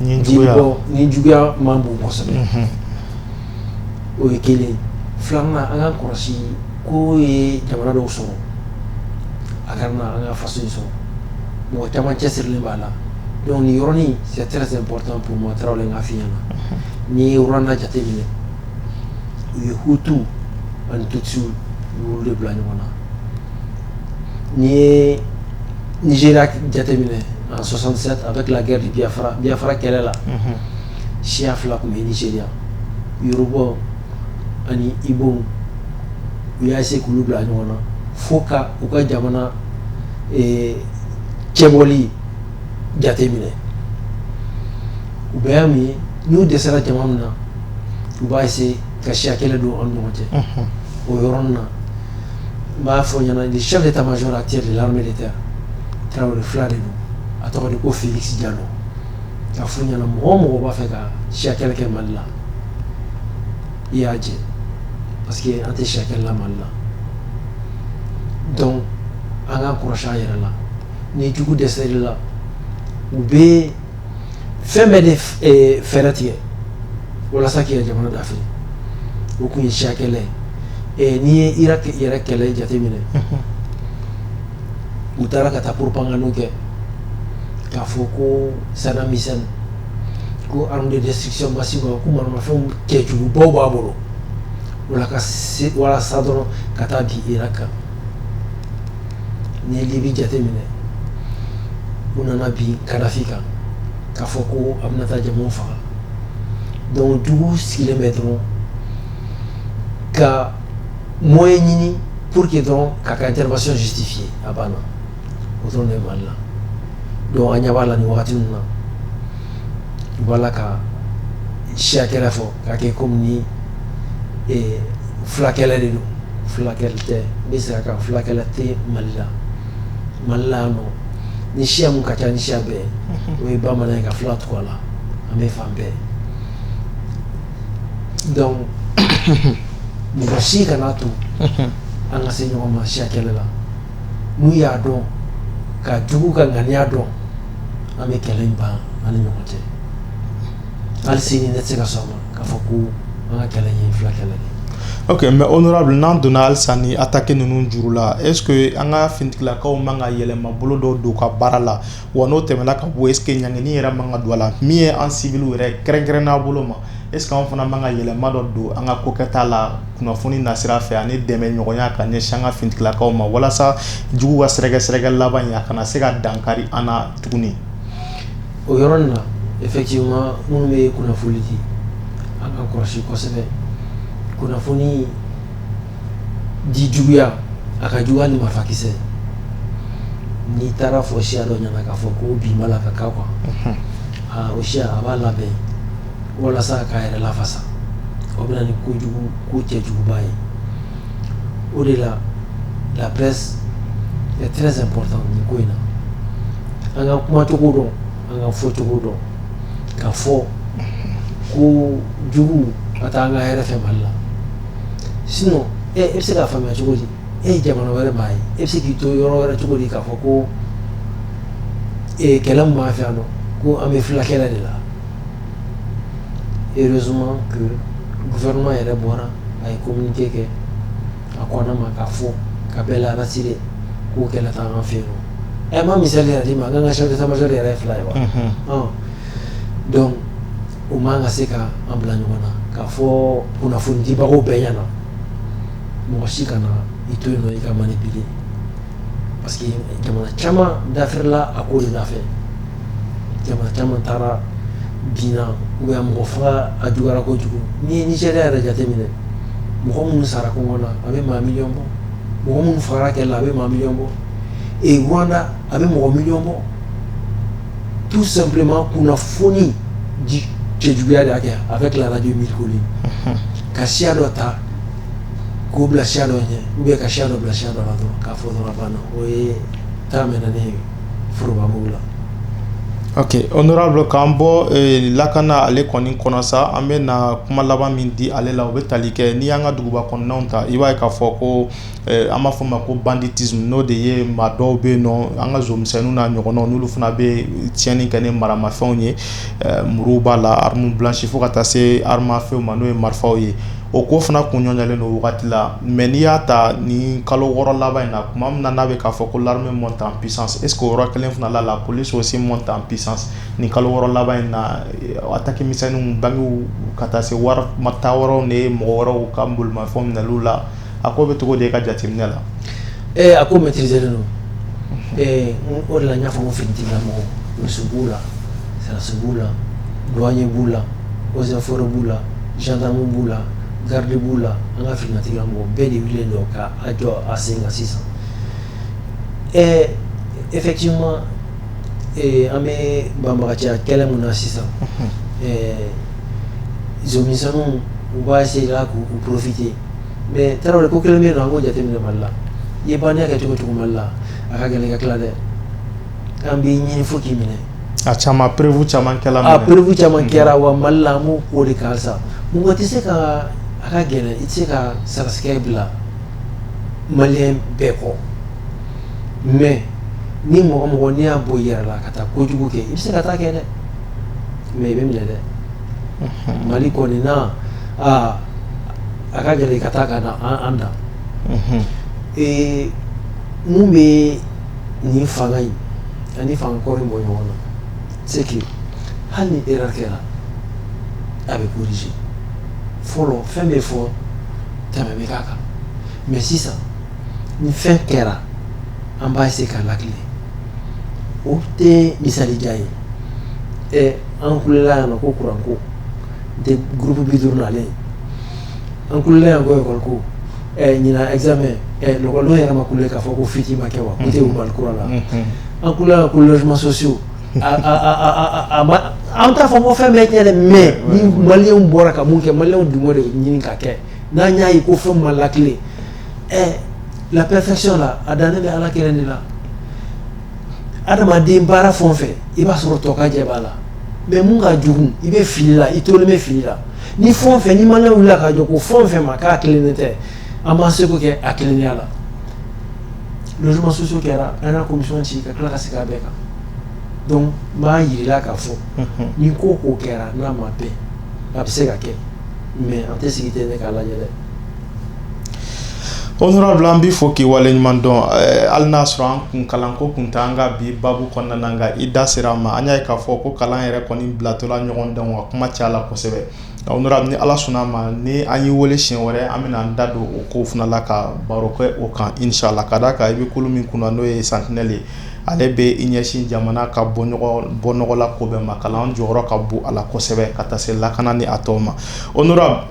nin juguya man bon kosɛbɛ o ye kelen filanan an k'a kɔlɔsi k'u ye jamana dɔw sɔrɔ a ka an ka faso sɔrɔ mɔgɔ caman cɛsirilen b'a la donc nin yɔrɔnin c'est très important pour moi tarawele n k'a f'i ɲɛna n'i ye Rwanda jate minɛ u ye hutu ani tutsi de bila ɲɔgɔn na n'i ye Nigeria jate minɛ en 67 avec la guerre du Biafra Biafra kɛlɛ la unhun siya fila kun bɛ Nigeria Yorubaw ani Igbow u y'a essayer k'olu bila ɲɔgɔn na fo ka u ka jamana eh, cɛbɔli jateminɛ u bɛɛ y'a min ye n'u dɛsɛra jamana min na u b'a essayer ka siya kɛlɛ don aw ni ɲɔgɔn cɛ unhun o yɔrɔnin na n b'a f'i ɲɛna le chef d'état major actuel de l'armée de terre Tarawele fula de don a tɔgɔ de ko Felix Jalo k'a f'u ɲɛna mɔgɔ o mɔgɔ b'a fɛ ka siya kɛlɛ kɛ Mali la i y'a jɛ parce que an tɛ siya kɛlɛ la Mali la donc an k'an kɔlɔsi an yɛrɛ la ni jugu dɛsɛr'i la u bɛ fɛn bɛɛ de eh, fɛɛrɛ tigɛ walasa k'i yɛrɛ jamana dafiri o kun ye siya kɛlɛ ye eh, n'i ye irak yɛrɛ kɛlɛ jateminɛ u taara ka taa propagandew kɛ k'a fɔ ko sadam hussein ko arme de destruction massive ko maramafɛnw kɛjugubaw b'a bolo wala ka se walasa dɔrɔn ka taa bin irak kan n'i ye Libi jateminɛ u nana bin Kadhafi kan k'a fɔ ko a bɛna taa jamaw faga donc jugu sigilen bɛ dɔrɔn ka moyen ɲini pour que dɔrɔn k'a ka intervention justifier a banna o dɔrɔn de bɛ Mali la donc an ɲɛ b'a la nin wagati ninnu na u b'a la ka siya kɛlɛ fɔ k'a kɛ comme ni fulakɛlɛ de don fulakɛlɛ tɛ n bɛ segin a kan fulakɛlɛ tɛ Mali la Mali la yan nɔ ni siya min ka ca ni siya bɛɛ o ye bamanan ye ka fula tugu a la an bɛ fan bɛɛ donc mɔgɔ si kana to an ka se ɲɔgɔn ma siya kɛlɛ la n'u y'a dɔn ka jugu ka ŋaniya dɔn an bɛ kɛlɛ in ban an ni ɲɔgɔn cɛ hali sini ne tɛ se ka sɔn ma k'a fɔ ko an ka kɛlɛ in ye fila kɛlɛ de ye. ok mais honorable n'an donna halisa ni attaque ninnu juru la est ce que an ka finitigilakaw man ka yɛlɛmabolo dɔ don u ka baara la wa n'o tɛmɛna ka bɔ est ce que ɲangini yɛrɛ man ka don a la min ye an civili yɛrɛ kɛrɛnkɛrɛnnen a bolo ma est ce que anw fana man ka yɛlɛma dɔ don an ka kokɛta la kunnafoni nasira fɛ ani dɛmɛ ɲɔgɔnya ka ɲɛsin an ka finitigilakaw ma walasa jugu ka sɛrɛkɛsɛrɛkɛ laban in a kana se ka dankari an na tuguni o yɔrɔ in na effectivement minnu bɛ kunnafoni di an ka kɔlɔsi kosɛbɛ kunnafoni di juguya a ka juguya ni marifakisɛ n'i taara fɔ siya dɔ ɲɛna k'a fɔ ko bin b'a la ka k'a kan mhm. ah, o siya a b'a labɛn walasa k'a yɛrɛ lafasa o bɛ na ni kojugu ko cɛjuguba ye o de la la presse est très importante nin ko in na an ka kumacogo dɔn An ka fɔcogo dɔn k'a fɔ ko jugu a t'an ka hɛrɛ fɛ Mali la sinon e bɛ se k'a faamuya cogo di e ye jamana wɛrɛ maa ye e bɛ se k'i to yɔrɔ wɛrɛ cogo di k'a fɔ ko kɛlɛ min b'an fɛ yan nɔ ko an bɛ fula kɛlɛ de la heureusement que gouvernement yɛrɛ bɔra a ye communiqué kɛ a ko an ma k'a fɔ ka bɛɛ la rassurer ko kɛlɛ t'an fɛ yen nɔ a ma misali yɛrɛ di ma an ka chef d'état-major yɛrɛ ye fila ye wa donc u man ka se ka an bila ɲɔgɔn na k'a fɔ kunnafonidibagaw bɛɛ ɲɛna mɔgɔ si kana i to yen i ka manipuler parce que jamana caman dafela a ko da jamana caman taara diɲɛ u yan mɔgɔ fɔlɔ a juyarayara ko kojugu n'i ye ni jɛ yɛrɛ jate minɛ mɔgɔ minnu sara ko na a bɛ maa mi bɔ mɔgɔ minnu fara kɛ la a bɛ maa mi bɔ e wda a bɛ mɔgɔ mi bɔ tu sanbilenma kun foni cɛ juguyaya de' kɛ a bɛ tilalaj miiriri ka siya dɔ ta k'o bila siya dɔ ɲɛ ou bien ka siya dɔ bila siya dɔ la dɔrɔn k'a fɔ dɔrɔn banna o ye taa mɛnna ne ye forobabugu la ok honorable k'an bɔ eh, lakana ale kɔni kɔnɔ sa an bɛ na kuma laban min di ale la o bɛ tali kɛ n'i y'an ka duguba kɔnɔnaw ta i b'a ye k'a fɔ ko eh, an b'a fɔ ma ko banditisme n'o de ye maa dɔw bɛ yen nɔ an ka zomisɛnninw n'a ɲɔgɔnnaw n'olu fana bɛ tiɲɛni kɛ ni maramafɛnw ye eh, muruw b'a la arme blanche fo ka taa se arme à feu ma n'o ye marifaw ye o ko fana kun nɔgɔyalen don wagati la mais n'i y'a ta ni kalo wɔɔrɔ laban in na kuma min na n'a bɛ k'a fɔ ko l'armée monte en puissance est-ce que o yɔrɔ kelen fana la la police aussi monte en puissance ni kalo wɔɔrɔ laban in na attaque misɛnninw bankiw ka taa se wari ta yɔrɔw ni mɔgɔ wɛrɛw ka bolimafɛnw minɛliw la a ko bɛ cogo di e ka jateminɛ la Ee a ko maîtriser don ee o de la n y'a fɔ finitigilamɔgɔ polisi b'u la sarasiw b'u la douanier b'u la eaux et forêts b'u la gendarme b'u la garde b'u la an ka finitigilamɔgɔ bɛɛ de wililen don ka a jɔ a sen kan sisan ee effectivement an bɛ banbagacɛya kɛlɛ min na sisan ɛɛ zomisɛnninw u b'a essayer k'u profiter mais tarawele ko kelen bɛ yen nɔ an k'o jate minɛ mali la i ye bandiya kɛ cogo cogo mali la a ka gɛlɛn ka tila dɛ an b'i ɲini fo k'i minɛ a caman preuve caman a preuve caman kɛra wa mali la an b'o ko de kan sa mɔgɔ tɛ se ka a ka gɛlɛn i tɛ se ka sarasikɛ bila maliyɛn bɛɛ kɔ mais ni mɔgɔ mɔgɔ n'i y'a bɔ i yɛrɛ la ka taa kojugu kɛ i bɛ se ka taa kɛ dɛ mais i bɛ minɛ dɛ mali kɔni na a ka gɛlɛn ka taa ka an dan mun bɛ nin fanga in ani fanga kɔrɔ bɔ ɲɔgɔn na c'est que hali ni erreur kɛra a bɛ corriger fɔlɔ fɛn bɛ fɔ tɛmɛ bɛ k'a kan mais sisan ni fɛn kɛra an b'a essayer k'a lakilen o tɛ misalijan ye An kulela yan nɔ ko courant ko de groupe 50 nalen an kulela yan ko école ko ɛɛ ɲinan examen ɛɛ l'école denw yɛrɛ ma kule k'a fɔ ko fuite ma kɛ wa k'u tɛ Mali kura la an kulela yan ko logements sociaux a a a a ma an t'a fɔ ko fɛn bɛɛ tiɲɛ dɛ mais ni maliyɛnw bɔra ka mun kɛ maliyɛnw dun b'o de ɲini ka kɛ n'an y'a ye ko fɛn ma latilen ɛɛ la perfection la a dannen bɛ Ala kelen de la adamaden baara fɛn o fɛn i b'a sɔrɔ tɔ ka jɛ b'a la mais mun ka jugu i bɛ fili la i tolen bɛ fili la ni fɛn o fɛn ni maliyɛnw wilila ka jɔ ko fɛn o fɛn ma k'a kilennen tɛ an b'an seko kɛ a kilennenya la logements sociaux kɛra an y'a commission sigi ka tila ka segin a bɛɛ kan donc n b'a yirila k'a fɔ ni ko o ko kɛra n'a ma bɛn a bɛ se ka kɛ mais an tɛ sigi ten k'a lajɛ dɛ Honorable an b'i fo k'i waleɲuman dɔn hali n'a sɔrɔ an kun kalanko kun t'an ka bi babu kɔnɔna na nka i da sera a ma an y'a ye k'a fɔ ko kalan yɛrɛ kɔni bilatɔla ɲɔgɔn dɔn wa kuma caya la kosɛbɛ honorable ni ala sɔnna a ma ni an y'i wele siɲɛ wɛrɛ an bɛna an da don o kow fana la ka baro kɛ o kan inshallah ka d'a kan i bɛ kulu min kunna n'o ye Sentinelle ye ale bɛ i ɲɛsin jamana ka bɔnɔgɔla ko bɛɛ ma kalan jɔyɔrɔ ka bon a la kosɛbɛ ka taa se lakana ni a tɔw ma o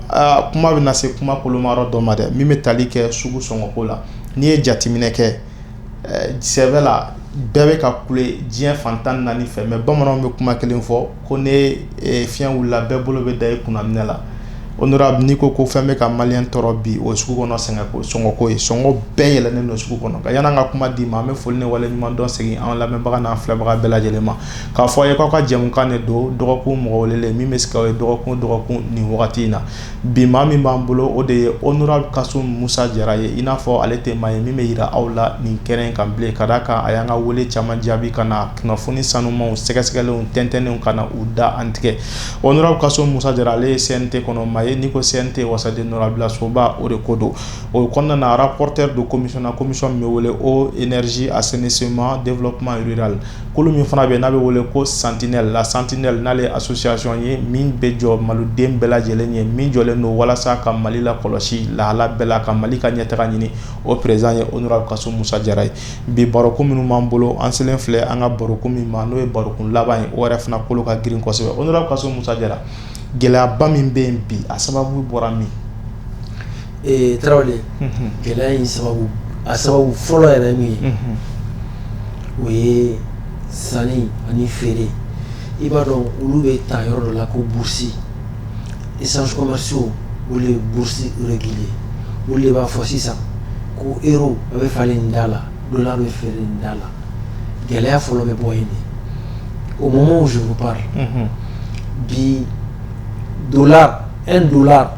Aa kuma bɛna se kuma kolomayɔrɔ dɔ ma dɛ min bɛ tali kɛ sugu sɔngɔko la n'i ye jateminɛ kɛ sɛbɛ la bɛɛ bɛ ka kule diɲɛ fan tan ni naani fɛ mais bamananw bɛ kuma kelen fɔ ko ni fiɲɛ wulila bɛɛ bolo bɛ da i kunna minɛn la honorable n'i ko ko fɛn bɛ ka maliyɛn tɔɔrɔ bi o sugu kɔnɔ sɔngɔko ye sɔngɔ bɛɛ yɛlɛnnen don sugu kɔnɔ yann'an ka kuma d'i ma an bɛ foli ni waleɲuman dɔn segin an lamɛnbaga n'an filɛbaga bɛɛ lajɛlen ma k'a fɔ a ye k'aw ka jɛmukan de don dɔgɔkun mɔgɔ welelen min bɛ se k'aw ye dɔgɔkun dɔgɔkun nin wagati in na bi maa min b'an bolo o de ye honorable kasum musa jara ye i n'a fɔ ale tɛ maa ye min bɛ yira aw la nin kɛnɛ in kan bilen ka d'a kan a y'an ka wele caman jaabi ka na kunnafoni sanumanw sɛgɛsɛgɛlenw tɛntɛnnenw ka na u da an tigɛ honorable kasum musa jara ale ye CNT kɔnɔ maa ye n'i ko CNT wasaden nɔrabilasoba o de ko don o kɔnɔna na rapporteur don commission min bɛ wele eau énergie assainissement développement rural kulu min fana bɛ n'a bɛ wele ko Sentinelle la Sentinelle n'ale ye association ye min bɛ jɔ maliden bɛɛ lajɛlen ye min jɔlen don walasa ka mali lakɔlɔsi lahala bɛɛ la ka mali ka ɲɛtaga ɲini o président ye honorable kasum musa jara ye bi barokun minnu b'an bolo an selen filɛ an ka barokun min ma n'o ye barokun laban ye o yɛrɛ fana kolo ka girin kosɛbɛ honorable kasum musa jara gɛlɛyaba min bɛ yen bi a sababu bɔra min ee tarawele gɛlɛya in sababu a sababu fɔlɔ yɛrɛ min ye o ye sanni ani feere i b'a dɔn olu bɛ ta yɔrɔ dɔ la ko bourse échanges commerciaux olu de ye bourse réguler ye olu de b'a fɔ sisan ko euro a bɛ falen nin da la dollar bɛ feere nin da la gɛlɛya fɔlɔ bɛ bɔ yen de au moment où je vous parle bi dollar un dollar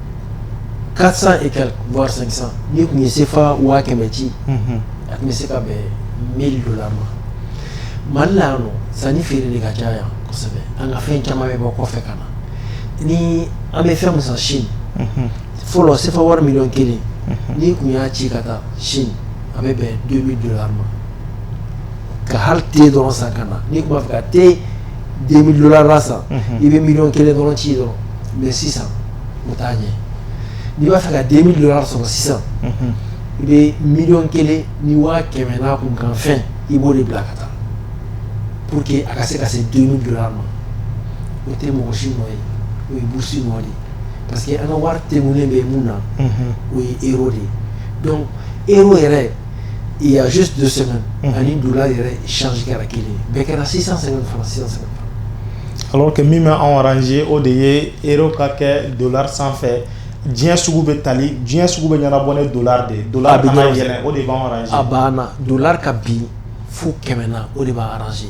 Quatre cent et quelques voire cinq cent n'i kun ye sefa waa kɛmɛ ci a tun bɛ se ka bɛn mille dollars ma mali la yan sanni feere de ka ca yan kosɛbɛ an ka fɛn caman bɛ bɔ kɔfɛ ka na ni an bɛ fɛn min san Chine fɔlɔ sefa wari miliyɔn kelen n'i kun y'a ci ka taa Chine a bɛ bɛn deux mille dollars ma ka hali te dɔrɔn san ka na n'i kun b'a fɛ ka deux mille dollars san i bɛ miliyɔn kelen dɔrɔn ci dɔrɔn mais sisan o t'a ɲɛ n'i b'a fɛ ka deux mille dollars sɔrɔ sisan i bɛ miliyɔn kelen ni waa kɛmɛ n'a kunkanfɛn i b'o de bila ka taa pour que a ka se ka se deux mille dollars ma o tɛ mɔgɔ si nɔ ye o ye bourse nɔ de parce que an ka wari tugulen bɛ mun na o ye euro de ye euro yɛrɛ il y a juste deux semaines mhm. ani dollar yɛrɛ change kɛra kelen bɛɛ kɛra 650 francs 650 alors que min bɛ anw arranger o de ye euro ka kɛ dollar sanfɛ diɲɛ sugu bɛ tali diɲɛ sugu bɛ ɲɛnabɔ ni dollar de ye dollar kana yɛlɛn o de b'anw arranger a banna dollar ka bin fo kɛmɛ na o de b'a arranger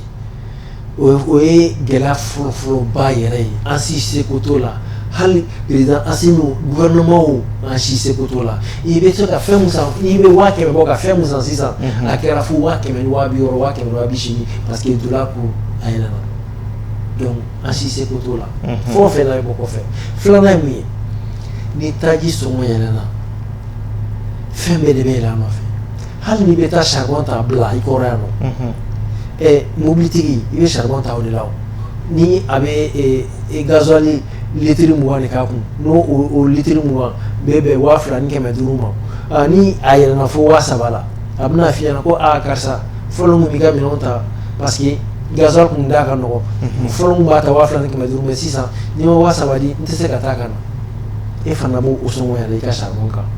o ye gɛlɛya fɔlɔfɔlɔba yɛrɛ ye an si seko t'o la hali président Assimi gouvernement o an si seko t'o la i bɛ se ka fɛn min san i bɛ waa kɛmɛ bɔ ka fɛn min san sisan a kɛra fo waa kɛmɛ ni waa bi wɔɔrɔ waa kɛmɛ ni waa bi seegin parce que dollar ko a yɛlɛna donc an si seko t'o la fɛn o fɛn n'a bɛ bɔ kɔfɛ filanan ye mun ye ni taji sɔngɔ yɛlɛna fɛn bɛɛ de bɛ yɛlɛ a nɔfɛ hali n'i bɛ taa charbon ta bila i kɔrɔ yan nɔ mobilitigi i bɛ charbon ta o de la ni a bɛ gasoil litiri mugan de k'a kun n'o litiri mugan bɛɛ bɛn waa fila ni kɛmɛ duuru ma ni a yɛlɛna fo waa saba la a bɛna f'i ɲɛna ko aaa karisa fɔlɔ n tun b'i ka minɛn ta parce que gasoil tun da ka nɔgɔ fɔlɔ n tun b'a ta waa fila ni kɛmɛ duuru mais sisan n'i ma waa saba di n tɛ se ka taa ka na e fana b'o sɔngɔ i ka charbon kan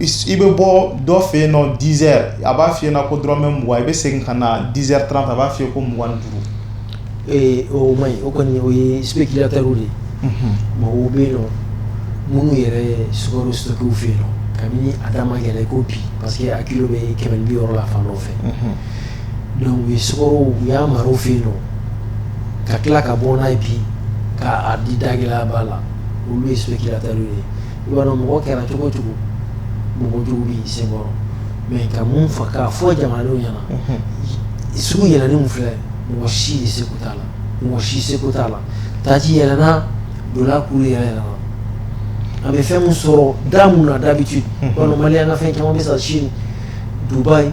i bɛ bɔ dɔ fɛ yen nɔ dix heures a b'a fɔ i ɲɛna ko dɔrɔmɛ mugan i bɛ segin ka na dix heures trente a b'a fɔ i ye ko mugan ni duuru, ee o man ɲi o kɔni o ye spéculateur de ye, unhun, mɔgɔw bɛ yen nɔ minnu yɛrɛ sukaro stocké fɛ yen nɔ kabini a da ma gɛlɛn i ko bi parce que a kilo bɛ kɛmɛ ni bi wɔɔrɔ la fan dɔw fɛ, unhun, donc u ye sukaro u y'a mara u fɛ yen nɔ ka tila ka bɔ n'a ye bi k'a di dagɛlɛyaba la olu ye spéculateurs de ye mɔgɔ kɛra cogo o cogo mɔgɔ jugu b'i senkɔrɔ mais ka mun fɔ k'a fɔ jamana ɲɛna sugu yɛlɛnni min filɛ mɔgɔ si se t'a la mɔgɔ si se t'a la taji yɛlɛna dollar cours yɛlɛna an bɛ fɛn min sɔrɔ da min na d'habitude walima an ka fɛn caman bɛ san Chine Dubaï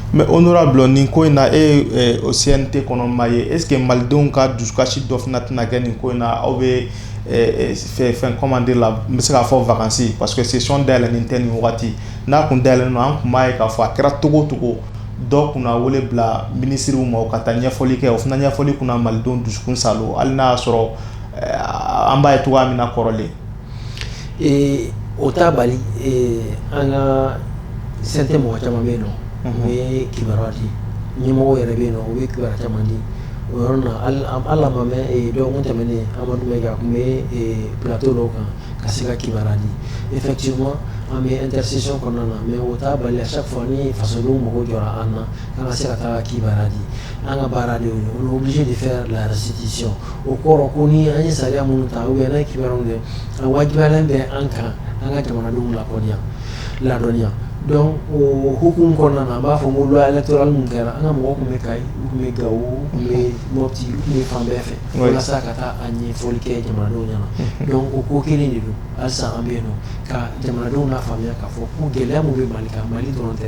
mais honorable nin ko in na e ye o CNT kɔnɔmaa ye est-ce que malidenw ka dusukasi dɔ fana tɛna kɛ nin ko in na aw bɛ fɛn comment dire la n bɛ se k'a fɔ vacances parce que session dayɛlɛlen tɛ nin waati n'a tun dayɛlɛlen don an tun b'a ye k'a fɔ a kɛra cogo o cogo dɔw kun na wele bila minisiriw ma u ka taa ɲɛfɔli kɛ o fana ɲɛfɔli kun na malidenw dusukun saalo hali n'a y'a sɔrɔ an b'a ye cogoya min na kɔrɔlen Ee o ta bali an ka san tɛ mɔgɔ caman bɛ yen u ye kiba di ɲɛmɔgɔ yɛrɛ bɛ yen u ye kiba caman di o yɔrɔ na ala ma dɔgɔkun tɛmɛnen amadu tun bɛto dɔw kan ka se ka kiba di e fɛ ci ma an bɛ an tɛsi kɔnɔna na mɛ o t taa bali sa fɔ ni faso mɔgɔw jɔ an na An ka se ka taa kibaruya di an ka baara de y'o ye on est obligé de faire la restitution o kɔrɔ ko ni an ye sariya minnu ta ou bien n'an ye kibaruya kɛ a wajibiyalen bɛ an kan an ka jamanadenw la kɔnɔya ladɔnniya donc o hukumu kɔnɔna na an b'a fɔ ko loi électorale min kɛra an ka mɔgɔ tun bɛ kayi u tun bɛ gawo u tun bɛ mɔti u tun bɛ fan bɛɛ fɛ walasa ka taa a ɲɛfɔli kɛ jamanadenw ɲɛna donc o ko kelen de don halisa an bɛ yen nɔ ka jamanadenw lafaamuya k'a fɔ ko gɛlɛya minnu bɛ mali kan mali dɔrɔn tɛ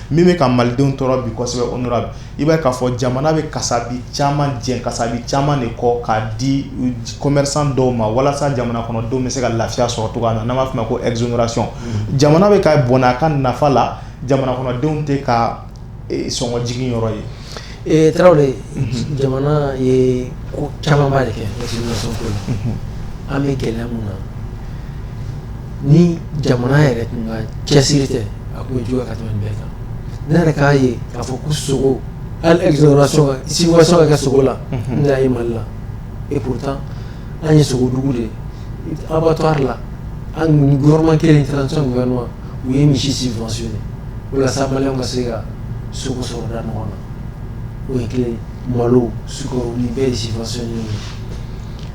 min bɛ ka malidenw tɔɔrɔ bi kosɛbɛ honorable i b'a ye k'a fɔ jamana bɛ kasabi caman jɛn kasabi caman de kɔ k'a di commerçant dɔw ma walasa jamana kɔnɔdenw bɛ se ka lafiya sɔrɔ cogoya min na n'an b'a fɔ a ma ko exonération jamana bɛ ka bɔnɛ a ka nafa la jamana kɔnɔdenw tɛ ka sɔngɔjigin yɔrɔ ye Ee tarawele jamana ye ko camanba de kɛ an bɛ gɛlɛya min na ni jamana yɛrɛ tun cɛsiri tɛ a tun ju ka tɛmɛ bɛɛ kan ne yɛrɛ k'a ye k'a fɔ ko sogo siwaso kɛ sogo la n'a ye mali la e ko tan an ye sogodugu de aw bɛ to la anma kelen u ye misi si fasi walasa maliens ka se ka sogo sɔrɔ da nɔgɔn na o ye kelen malo sukaro nin bɛɛ de subventionné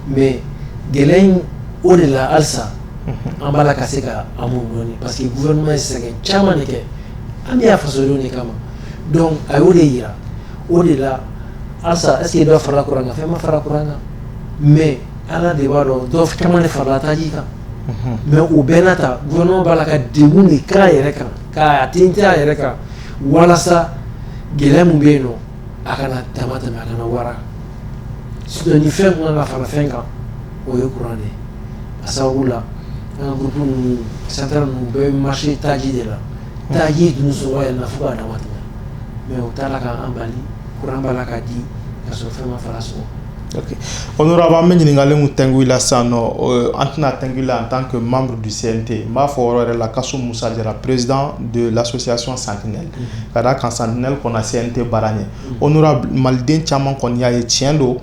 mais gɛlɛya in o de la halisa an b'a la ka se ka an muɲu dɔɔni parce que gouvernement ye sɛgɛn caman de kɛ an bɛ yan fasodenw de kama donc a y'o de jira o de la halisa est-ce que dɔ farala kuran kan fɛn ma fara kuran kan mais Ala de b'a dɔn dɔ caman de farala taji kan mais o bɛɛ n'a ta gouvernement b'a la ka degun de k'a yɛrɛ kan k'a tintin a yɛrɛ kan walasa gɛlɛya min bɛ yen nɔ a kana dama tɛmɛ a kana wara sinon ni fɛn tun ka kan ka fara fɛn kan o ye kuran de ye a sababu la an ka groupe ninnu centrale ninnu bɛɛ bɛ marché taji de la taji dun sɔngɔ yɛlɛnna fo k'a dama tɛmɛ mais o t'a la k'an bali kuran b'a la ka di ka sɔrɔ fɛn ma fara sɔngɔ Ok honorable an bɛ ɲininkali min tɛngu i la sisan nɔ an tɛn'a tɛngu i la en tant que membre du CNT n b'a fɔ o yɔrɔ yɛrɛ la kasum musa jara président de l'association sentinelle ka d'a kan sentinelle kɔnna CNT baara ɲɛ honorable maliden caman kɔni y'a ye tiɲɛ don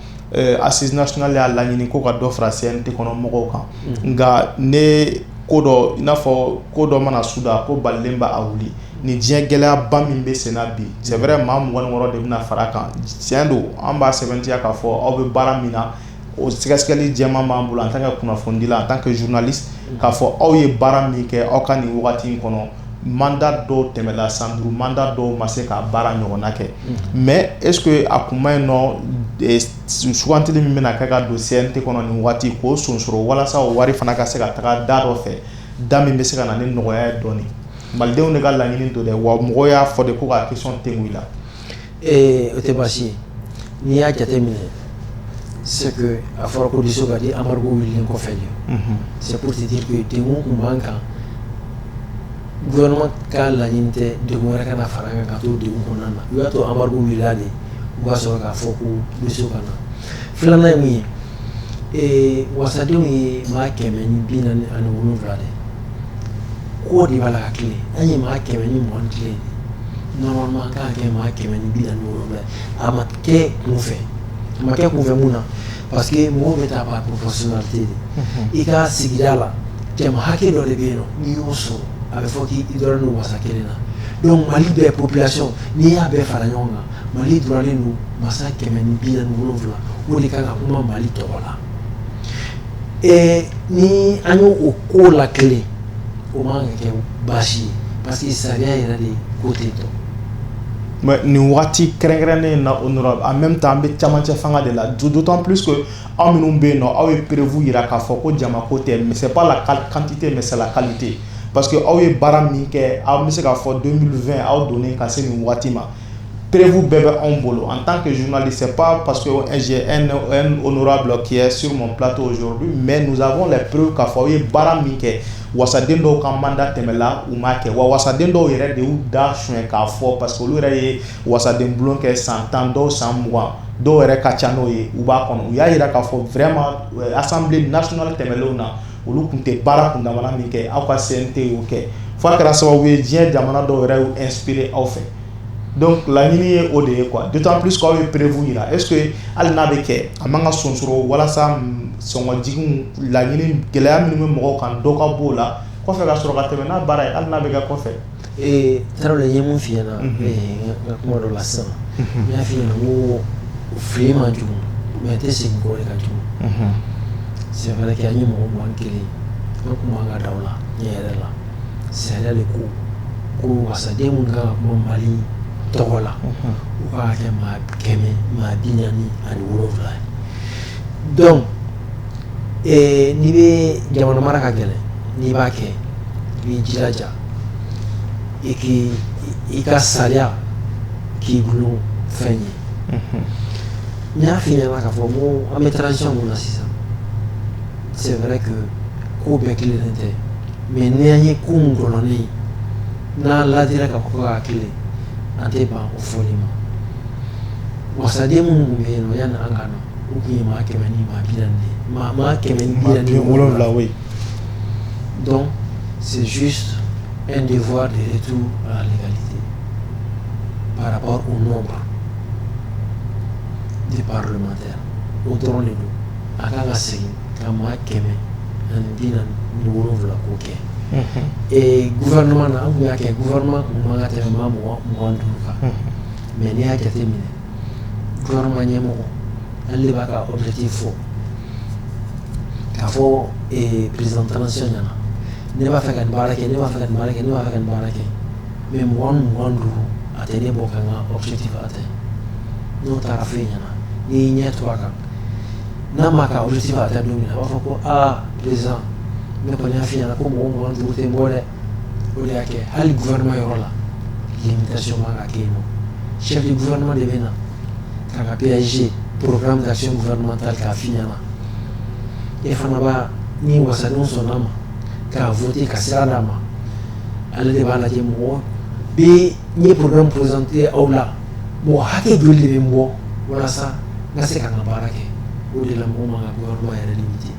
assises nationales y'a laɲini ko ka dɔ fara CNT kɔnɔ mɔgɔw kan nka ne ko dɔ i n'a fɔ ko dɔ mana suda ko balilen b'a wuli ni diɲɛ gɛlɛyaba min bɛ sen na bi c'est vrai maa mugan ni wɔɔrɔ de bɛna fara a kan tiɲɛ don an b'a sɛbɛntiya k'a fɔ aw bɛ baara min na o sɛgɛsɛgɛli jɛman b'an bolo en tant que kunnafonidila en tant que journaliste k'a fɔ aw ye baara min kɛ aw ka nin waati in kɔnɔ mandat dɔw tɛmɛla san duuru mandat dɔw ma se ka baara ɲɔgɔnna kɛ mais est-ce que a kun man ɲi nɔ sugantili min bɛna kɛ ka don CNT kɔnɔ nin waati k'o sonsoro walasa o wari fana ka se ka taga da dɔ fɛ da min bɛ se ka na ni nɔgɔya ye dɔɔnin malidenw de ka laɲini don dɛ wa mɔgɔw y'a fɔ de ko ka question te la o tɛ baasi ye n'i y'a jate minɛ c'est que a fɔra ko diso ka di embargo wililen kɔfɛ de c'est pour te dire que degun tun b'an kan gouvernement ka laɲini tɛ degun wɛrɛ ka na fara kan ka to degun kɔnɔna na u y'a to embargo wilila de u b'a sɔrɔ k'a fɔ ko misi ka na filanan ye mun ye wasadenw ye maa kɛmɛ ni bi naani ni wolowula de ko de b'a la ka tilen an ye maa kɛmɛ ni mugan ni kelen normalement an ka kan ka kɛ maa kɛmɛ ni bi naani ni wolonwula ye a ma kɛ kunfɛ a ma kɛ kunfɛ mun na parce que mɔgɔw bɛ taa par proportionnalité de i ka sigida la jama hakɛ dɔ de bɛ yen nɔ n'i y'o sɔrɔ a bɛ fɔ k'i dɔrɔn don wasa kelen na donc Mali bɛɛ population n'i y'a bɛɛ fara ɲɔgɔn kan Mali dɔrɔnlen don wasa kɛmɛ ni bi naani ni wolonwula o de ka kan ka kuma Mali tɔgɔ la ɛɛ ni an y'o ko la kelen o man ka kɛ baasi ye parce que sariya yɛrɛ de ko ten tɔ mais nin waati kɛrɛnkɛrɛnnen in na honorable en même temps an bɛ camancɛ fanga de la d'autant plus que aw minnu bɛ yen nɔ aw ye preuve jira k'a fɔ ko jama ko tɛ mais c'est pas la quantité mais c'est la qualité parce que aw ye baara min kɛ an bɛ se k'a fɔ 2020 aw donnen ka se nin waati ma perefu bɛɛ bɛ anw bolo an tan kɛ zli se pa pa n'ra kɛ s ptɔ mɛ musaɔn la perew k'a fɔ aw ye baara min kɛ waden dɔw ka manda tɛmɛ la u ma kɛ wa waden dɔw yɛrɛ de da son k'a fɔ pa que olu yɛrɛ ye waden bulon kɛ san tan dɔw san mugan dɔw yɛrɛ ka ca n'o ye u b'a kɔnɔ u y'a jira k'a fɔ fɛrɛma asanbilen nas tɛmɛlen na olu tun tɛ baara kundamana min kɛ aw ka CNT y'o kɛ fo a kɛra sababu ye diɲɛ jamana dɔw yɛrɛ y'u inspiré aw fɛ donc laɲini ye o de ye quoi d'autant plus qu'aw ye preuve yira est-ce que hali n'a bɛ kɛ a man ka sonsoro walasa sɔngɔjigiw laɲini gɛlɛya minnu bɛ mɔgɔw kan dɔ ka b'o la kɔfɛ ka sɔrɔ ka tɛmɛ n'a baara ye hali n'a bɛ kɛ kɔfɛ Ee tarawele ye mun f'i ɲɛna n ka kuma dɔ la sisan n y'a f'i ɲɛna ko fili man jugu mais tɛ segin kɔ de ka jugu c'est vrai que an ye mɔgɔ mugan ni kelen an tun man ka da o la ne yɛrɛ la sariya de ko ko wasaden min kan ka kuma mali tɔgɔ la u ka kɛ maa kɛmɛ maa bi naani ani wolo wolonwula donc n'i bɛ jamana mara ka gɛlɛn n'i b'a kɛ i b'i jija i k i ka sariya k'i bolo fɛn ye n y'a f'i ɲɛna k'a fɔ an bɛ transition min na sisan c'est vrai que ko bɛɛ tilennen tɛ mais n'an ye ko min gɔlɔnnen ye n'an laadira k'a fɔ ko k'a tilen an tɛ ban o fɔli ma wasaden minnu tun bɛ yen nɔ yanni an ka na u tun ye maa kɛmɛ ni maa maa kɛmɛ wolonwula ye Donc, c'est juste un devoir de retour à la légalité par rapport au nombre des parlementaires. O dɔrɔn de don a kan ka segin ka maa kɛmɛ ani bi naani ni wolonwula k'o kɛ ee gouvernement na an tun y'a kɛ gouvernement tun man ka tɛmɛ maa mugan ni duuru kan mais n'i y'a jateminɛ gouvernement ɲɛmɔgɔ ale de b'a ka objectif fɔ k'a fɔ ee président transition ɲɛna ne b'a fɛ ka nin baara kɛ ne b'a fɛ ka nin baara kɛ ne b'a fɛ ka nin baara kɛ mais mɔgɔ mugan ni duuru a tɛ ne bɔ ka n ka objectif atteint n'o taara f'e ɲɛna n'i y'i ɲɛ to a kan n'a m'a ka objectif atteint don min na a b'a fɔ ko aa président ne kɔni y'a f'i ɲɛna ko mɔgɔ mugan ni duuru tɛ n bɔ dɛ o de y'a kɛ hali gouvernement yɔrɔ la limitation man ka kɛ yen nɔ chef du gouvernement de bɛ na k'a ka PAG programme d'action gouvernementale k'a f'i ɲɛna e fana b'a ni wasadenw sɔnn'a ma k'a voter ka sira d'a ma ale de b'a lajɛ mɔgɔ bɛ n ye programme présenté aw la mɔgɔ hakɛ joli de bɛ n bɔ walasa n ka se ka n ka baara kɛ o de la mɔgɔ man ka gouvernement yɛrɛ limiter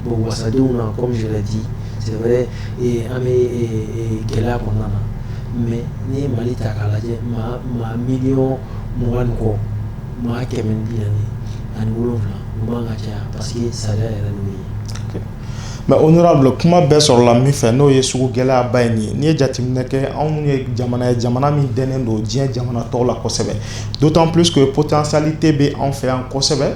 bon wasadenw na comme je l'ai dit c'est vrai ee an bɛ ee gɛlɛya kɔnɔna na mais n'i ye Mali ta k'a lajɛ maa maa miliyɔn mugan ni kɔ maa kɛmɛ ni bi naani ani wolonwula u man ka caya parce que sariya yɛrɛ y'o ye mais honorable kuma bɛɛ sɔrɔla min fɛ n'o ye sugu gɛlɛyaba ye nin ye n'i ye jateminɛ kɛ anw ye jamana ye jamana min dɛnnen don diɲɛ jamana tɔw la kosɛbɛ d'autant plus que potentialité bɛ anw fɛ yan kosɛbɛ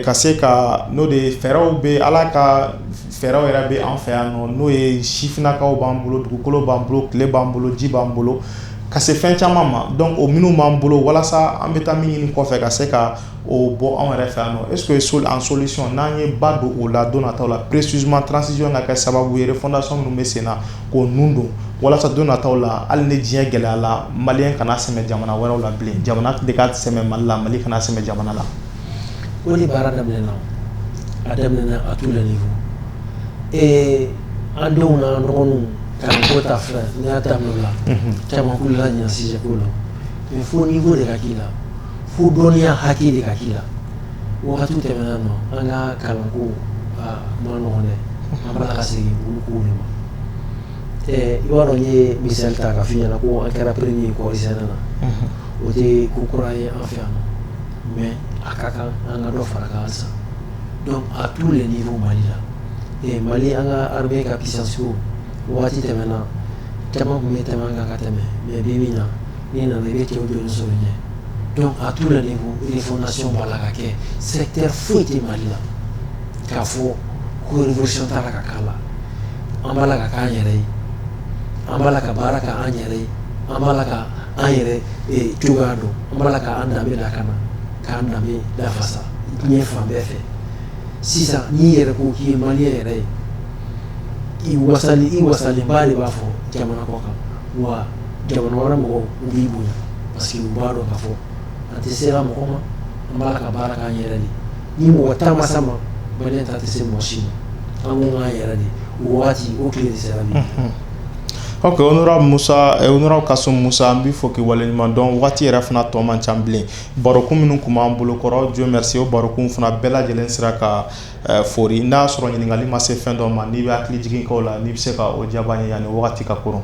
ka se ka n'o de fɛɛrɛw bɛ ala ka fɛɛrɛw yɛrɛ bɛ an fɛ yan nɔ n'o ye sifinnakaw b'an bolo dugukolo b'an bolo tile b'an bolo ji b'an bolo ka se fɛn caman ma donc o minnu b'an bolo walasa an bɛ taa min ɲini kɔfɛ ka se ka o bɔ anw yɛrɛ fɛ yan est-ce que en solution n'an ye ba don o la don nataw la précisément transition ka kɛ sababu ye refondation minnu bɛ sen na k'o ninnu don walasa don nataw la hali ni diɲɛ gɛlɛyala mali kana sɛmɛ jamana wɛrɛ la bilen jamana de ka sɛmɛ mali la mali kana sɛmɛ jamana la o de baara daminɛna a daminɛna à tous les niveaux an denw n'an dɔgɔninw kalanko ta filɛ n y'a ta la caman k'u la ɲina sujet ko la mais fo niveau de ka k'i la fo dɔnniya hakɛ de ka k'i la wagati tɛmɛna nɔ an ka kalanko man nɔgɔn dɛ an b'a la ka segin olu ko de ma i b'a dɔn n ye misali ta k'a f'i ɲɛna ko an kɛra premier ye kɔɔrisɛnɛ na o tɛ ko kura ye an fɛ yan mais a ka kan an ka dɔ fara kan halisa donc à tous les niveaux mali la ee mali an ka armée ka puissance ko waati tɛmɛna caman tun bɛ tɛmɛ an kan ka tɛmɛ mais bi min na n'i nana i bɛ cɛw jɔlen sɔrɔ ɲɛ donc à tous les niveaux refondation b'a la ka kɛ secteur foyi tɛ mali la k'a fɔ ko révolution t'a la ka k'a la an b'a la ka k'an yɛrɛ ye an b'a la ka baara kɛ an yɛrɛ ye an b'a la ka an yɛrɛ cogoya dɔn an b'a la k'an danbe lakana k'an danbe lafasa diɲɛ fan bɛɛ fɛ sisan n'i yɛrɛ ko k'i ye malien yɛrɛ ye i wasali i wasalenba de b'a fɔ jamana kɔ kan wa jamana wɛrɛ mɔgɔw u b'i bonya parce que u b'a dɔn k'a fɔ an tɛ sera mɔgɔ ma an b'a la ka baara k'an yɛrɛ de ni mɔgɔ ta ma s'an ma malien ta tɛ se mɔgɔ si ma an ko k'an yɛrɛ de o waati o tile de sera bi Ok honorable Moussa ee honorable Kassim Moussa an b'i fo k'i waleɲuman dɔn waati yɛrɛ fana tɔ man ca bilen barokun minnu tun b'an bolo kɔrɔ Dieu merci o barokun fana bɛɛ lajɛlen sera ka foori n'a y'a sɔrɔ ɲininkali ma se fɛn dɔ ma n'i bɛ hakili jigin kɛ o la n'i bɛ se ka o jaab'an ye yani wagati ka koron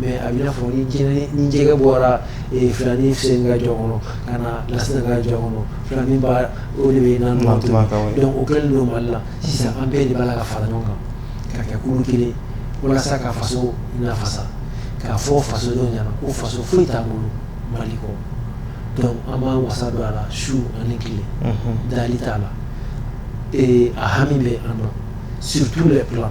mais a bɛ i n'a fɔ ni jɛgɛ bɔra filanin seni ka jɔ kɔnɔ ka na lasina ka jɔ kɔnɔ filanin ba o de bɛ na mɔ donc o kɛlen don mali la sisan an bɛɛ de b'a la ka fara ɲɔgɔn kan ka kɛ kulu kelen walasa ka faso lafasa k'a fɔ fasodenw ɲɛna ko faso foyi t'an bolo mali kɔ donc an b'an wasa don a la su ani tile dali t'a la a hami bɛ an sutu bɛ bila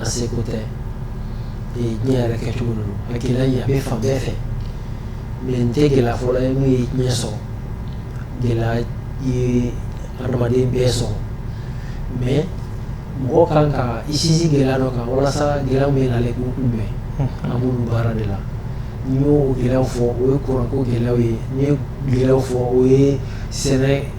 a seko tɛ ee diɲɛ yɛrɛ kɛcogo don a gɛlɛya in a bɛ fan bɛɛ fɛ mais nin tɛ gɛlɛya fɔlɔ ye min ye diɲɛ sɔrɔ gɛlɛya ye adamaden bɛɛ sɔrɔ mais mɔgɔ kan ka i sinsin gɛlɛya dɔ kan walasa gɛlɛya min nalen k'u kunbɛn an b'olu baara de la n y'o gɛlɛyaw fɔ o ye kuranko gɛlɛyaw ye n ye gɛlɛyaw fɔ o ye sɛnɛ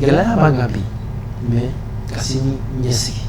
gɛlɛya b'an kan bi mais ka sini ɲɛsigi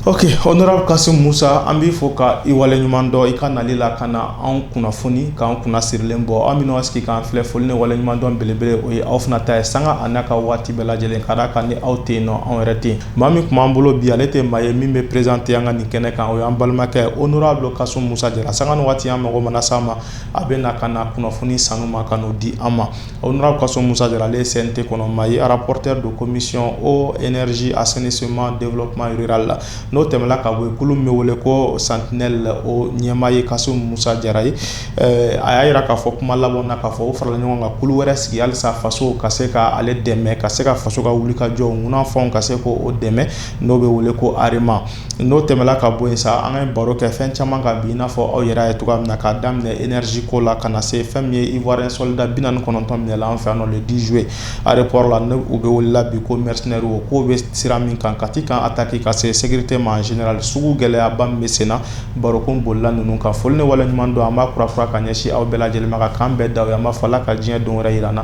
ok honorable kasim musa an b'i fo ka i wale ɲuman dɔn i ka nali la ka na an kunnafoni k'an kunna sirilen bɔ aw minnu y'aw sigi k'an filɛ foli ni wale ɲuman dɔn belebele o ye aw fana ta ye sanga a n'a ka waati bɛɛ lajɛlen ka d'a kan ni aw tɛ yen nɔ anw yɛrɛ tɛ yen maa min tun b'an bolo bi ale tɛ maa ye min bɛ présenté an ka nin kɛnɛ kan o y'an balimakɛ honorable kasim musa jara sanga ni waati an mago mana s'a ma a bɛ na ka na kunnafoni sanuman ka di an ma honorable kasum musa jara ale ye CNT kɔnɔmaa ye rapporteur don commission eau énergie assainissement développement rural la n'o tɛmɛna ka bɔ yen kulu min bɛ wele ko sentinelle o ɲɛmaa ye kasum musa jara ye a y'a jira k'a fɔ kuma laban na k'a fɔ o farala ɲɔgɔn kan kulu wɛrɛ sigi halisa faso ka se ka ale dɛmɛ ka se ka faso ka wuli ka jɔ munnafɛnw ka se k'o dɛmɛ n'o bɛ wele ko arema n'o tɛmɛna ka bɔ yen sa an ka baro kɛ fɛn caman kan bi i n'a fɔ aw yɛrɛ ye cogoya min na k'a daminɛ énergie ko la ka na se fɛn min ye ivoirien sɔlida bi naani ni kɔnɔntɔn minɛna an fɛ yan nɔ le dix juillet aéroport la n'u bɛ wele la bi ko mercenaires o k'o bɛ sira min kan kati camp attaque ka se sécurité ma en général sugu gɛlɛyaba min bɛ sen na barokun bolola ninnu kan foli ni waleɲumandɔn an b'a kura kura ka ɲɛsin aw bɛɛ lajɛlen ma ka kan bɛɛ da an b'a fɔ ala ka diɲɛ don wɛrɛ jira an na